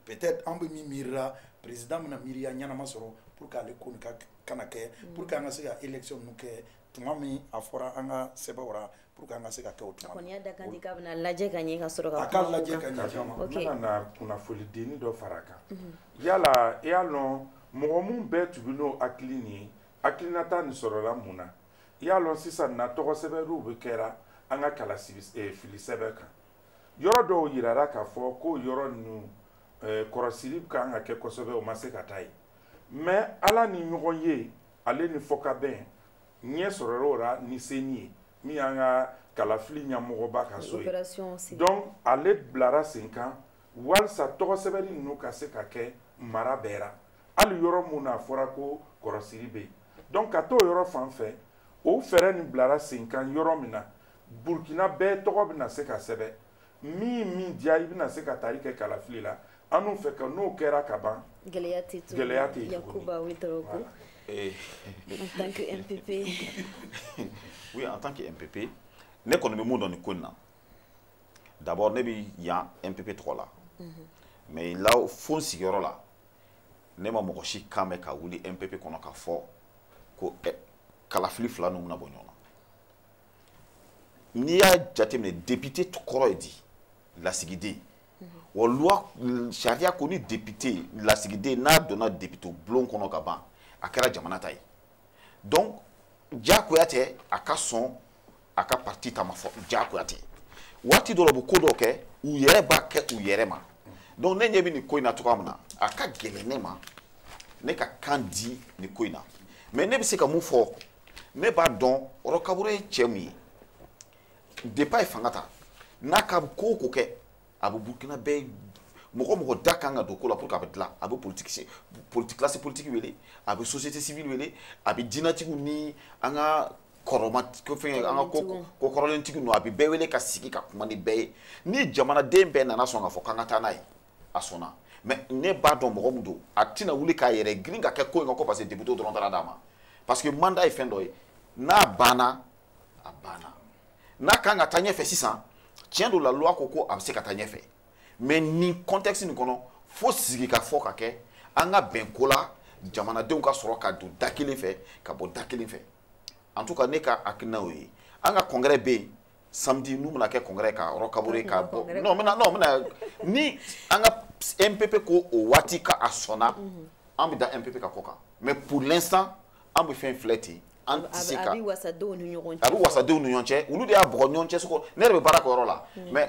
peut-être an bɛ min miirira président bɛna miiriya ɲɛnama sɔrɔ pour que ale ko nin ka kana kɛ mm. pour que an ka se ka élection ninnu kɛ tuma min a fɔra an ka sɛbɛnw ra pour que an ka se ka kɛ o tuma. a kɔni y'a da kan di k'a bɛna lajɛ ka ɲɛ ka sɔrɔ ka. a ka lajɛ ka ɲɛ a kama. ok n bɛna na kunnafoli denni dɔ fara a kan. Mhm. yala i y'a lɔn mɔgɔ minnu bɛɛ tun bɛ n'o hakili nin ye hakilinata nin sɔrɔla mun na i y'a lɔn sisan na tɔgɔ sɛbɛnniw bɛ kɛra an ka kala eh, fili sɛbɛn kan. yɔrɔ dɔw yirara k'a fɔ ko yɔrɔ ninnu eh, kɔrɔsili ka kan ka kɛ kosɛbɛ o ma se ka taa yen mais ala ni ɲɔgɔn ye ale ni fɔkabɛn ɲɛ sɔrɔra o ra ni CENI ye min y'an ka kalafili ɲɛmɔgɔba ka so ye donc ale bilara sen kan walisa tɔgɔ sɛbɛnni ninnu ka se ka kɛ mara bɛɛ ra hali yɔrɔ min na a fɔra ko kɔrɔsiri bɛ yen donc ka t'o yɔrɔ fan fɛ o fɛɛrɛ nin bilara sen kan yɔrɔ min na burkina bɛɛ tɔgɔ bɛna se ka sɛbɛn min min diya i bɛna se ka taari kɛ kalafili la anw fɛ ka n'o kɛra ka ban gɛlɛya tɛ tuguni gɛlɛya tɛ yen yakuba ouedraogo eh. en tant que mpp oui en tant que mpp ne kɔni bɛ mun dɔn nin ko in na d'abord ne bɛ yan mpp tɔgɔ la mhm. mais là fo n sigiyɔrɔ la ne ma mɔgɔ si kan mɛn ka wuli mpp kɔnɔ ka fɔ ko eh, kalafili fila ninnu bɛna bɔ ɲɔgɔn na n'i y'a jateminɛ depite kɔrɔ ye di lasigiden wa loi sariya ko ni depite lasigiden n'a donna depite bulon kɔnɔ ka ban a kɛra jamana ta ye donc diyagoya tɛ a ka sɔn a ka parti ta ma fɔ diyagoya tɛ waati dɔ la u bɛ ko dɔ kɛ u yɛrɛ b'a kɛ u yɛrɛ ma donc ne ɲɛ bɛ nin ko in na cogoya min na a ka gɛlɛn ne ma ne ka kan di nin ko in na mais ne bɛ se ka mun fɔ ne b'a dɔn Roch Kaboré ye cɛ min ye depuis a ye fanga ta n'a ka ko o ko kɛ a bɛ burukina bɛɛ mɔgɔ mɔgɔ da kan ka don ko la pour que a bɛ dilan a bɛ politique politi classe politique wele a bɛ société civile wele a bɛ diinatigiw ni an ka kɔrɔma ko fɛn an ka ko ko kɔrɔlentigi ninnu a bɛ bɛɛ wele ka sigi ka kuma ni bɛɛ ye ni jamanaden bɛɛ nana sɔn k'a fɔ k'an ka taa n'a ye a sɔnna mais ne b'a dɔn mɔgɔ min don a tɛna wuli k'a yɛrɛ girin ka kɛ ko in kan ko parce que deputew dɔrɔn taara d'a ma parce que mandat ye fɛn dɔ ye n'a banna a banna n'a kan ka taa ɲɛfɛ sisan tiɲɛ don la loi ko ko a bɛ se ka taa ɲɛfɛ mais nin contexte nin kɔnɔ fo sigikafɔ ka kɛ an ka bɛn ko la jamanadenw ka sɔrɔ ka don da kelen fɛ ka bɔ da kelen fɛ en tout cas ne ka hakilina y'o ye an ka congrès bɛ yen samedi n'u bɛna kɛ congrès ka Roch Kaboré ka bɔ non bɛna non bɛna ni an ka MPP ko o waati ka a sɔnna mhm. an bɛ da MPP ka ko kan mais pour l'instant an bɛ fɛn filɛ ten an tɛ se ka a bɛ wasadenw ni ɲɔgɔn cɛ a bɛ wasadenw ni ɲɔgɔn cɛ olu de y'a bɔgɔ ɲɔgɔn cɛ sogo ne yɛrɛ bɛ baara kɛ yɔrɔ la mais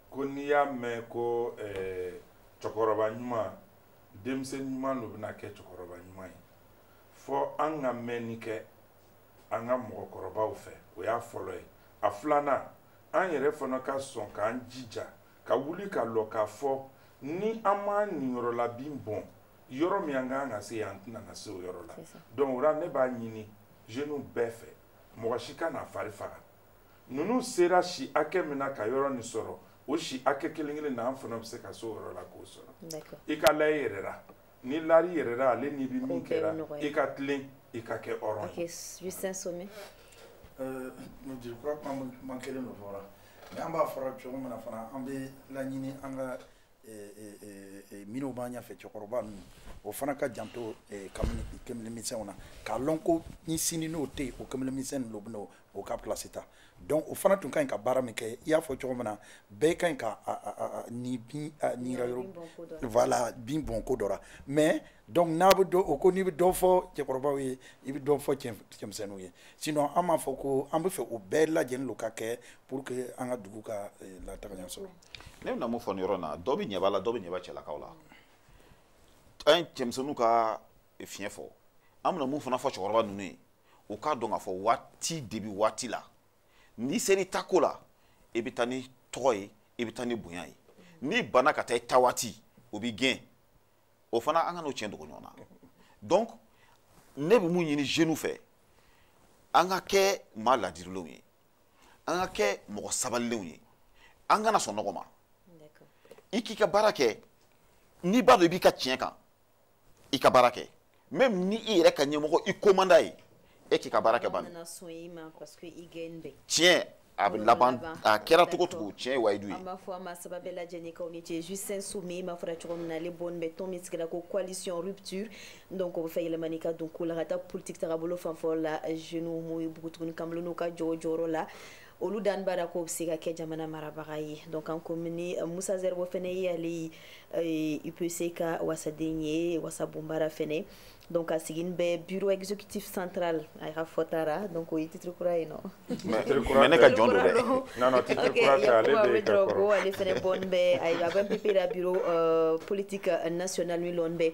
ko n'i y'a mɛn ko eh, cɛkɔrɔba ɲuman denmisɛn ɲuman de bɛna kɛ cɛkɔrɔba ɲuman ye fo an ka mɛnni kɛ an ka mɔgɔkɔrɔbaw fɛ o y'a fɔlɔ ye a filanan an yɛrɛ fana ka sɔn k'an jija ka wuli ka lɔ k'a fɔ ni an m'an niyɔrɔ la bin bɔn yɔrɔ min an ka kan ka se yen an tɛna na se o yɔrɔ la donc o la ne b'a ɲini jeunes bɛɛ fɛ mɔgɔ si kana a fari faga ninnu sera si hakɛ min na ka yɔrɔ nin sɔrɔ o si hakɛ kelen kelen na an fana bɛ se ka se o yɔrɔ la k'o sɔrɔ i ka la i yɛrɛ la n'i lara i yɛrɛ la ale n'i bɛ min kɛra i ka tilen i ka kɛ hɔrɔn ye. Justin Somé. Euh, je crois que man kelen dɔ fɔra mais an b'a fɔra cogo min na fana an bɛ laɲini an ka minnu b'an ɲɛfɛ cɛkɔrɔba ninnu o fana ka janto kamalenmisɛnw na k'a lɔn ko ni sini n'o tɛ yen o kamalenmisɛn ninnu bɛna o ka pilasi ta donc o fana tun ka ɲi ka baara min kɛ i y'a fɔ cogo min na bɛɛ ka ɲi ka ni bin nira yɔrɔ voilà bin bɔn ko dɔ la mais donc n'a bɛ dɔ o ko n'i bɛ dɔ fɔ cɛkɔrɔbaw ye i bɛ dɔ fɔ cɛmisɛnninw ye sinon an b'a fɔ ko an b'a fɛ o bɛɛ lajɛlen don ka kɛ pour que an ka dugu ka lataga ɲɛ sɔrɔ ne bɛna mun fɔ nin yɔrɔ in na dɔ bɛ ɲɛba la dɔ bɛ ɲɛba cɛlakaw la an ye cɛmisɛnninw ka fiɲɛ fɔ an bɛna mun fana fɔ cɛkɔrɔba ninnu ye u k'a dɔn k'a fɔ waati de bɛ waati la n'i sera i ta ko la i bɛ taa ni tɔgɔ ye i bɛ taa ni bonya ye n'i banna ka taa i ta waati o b'i gɛn o fana an kan'o tiɲɛ dogo ɲɔgɔn na donc ne bɛ mun ɲini jeunes fɛ an ka kɛ maa ladirilenw ye an ka kɛ mɔgɔ sabalilenw ye an kana sɔn nɔgɔ ma i k'i ka baara kɛ n'i b'a dɔn i b'i ka tiɲɛ kan i ka baara kɛ même ni i yɛrɛ ka ɲɛmɔgɔ i ko man d'a ye e k'i ka baara kɛ bani tiɲɛ a bɛ laban a kɛra cogo cogo tiɲɛ ye wayidu ye an b'aw fo aw maa saba bɛɛ lajɛlen k'aw ni ce justin somé m'a fɔra cogo min na ale bɔn bɛ tɔn min sigira ko coalition rupture donc o b'a fɛ yɛlɛmani ka don ko la ka taa politiki tagabolo fanfɛ la jeunes mun ye npogotiginin kamalenninw ka jɔyɔrɔ jɔyɔrɔ la olu dan b'a la k'o bɛ se ka kɛ jamana marabaga ye donc an ko ni euh, moussa zerbo fana ye ale euh, upc ka wasaden ye wasabonba ra fana donc a siginin bɛ bureau exécutif central a y'a fɔ taara donc o ye titre kura ye nɔ mais ne ka jɔn don dɛ non non titre kura tɛ ale de ye ka kɔrɔ ko ale fana bɔn bɛ a bɛ pp la bureau euh, politique national min lɔn bɛ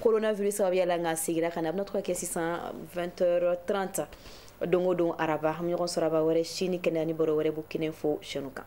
coronavirus sababuya la nka sigira ka na a bɛna to ka kɛ sisan 20h30 don o don araba an bɛ ɲɔgɔn sɔrɔ araba wɛrɛ si ni kɛnɛya ni baro wɛrɛ burkina info chaîne kan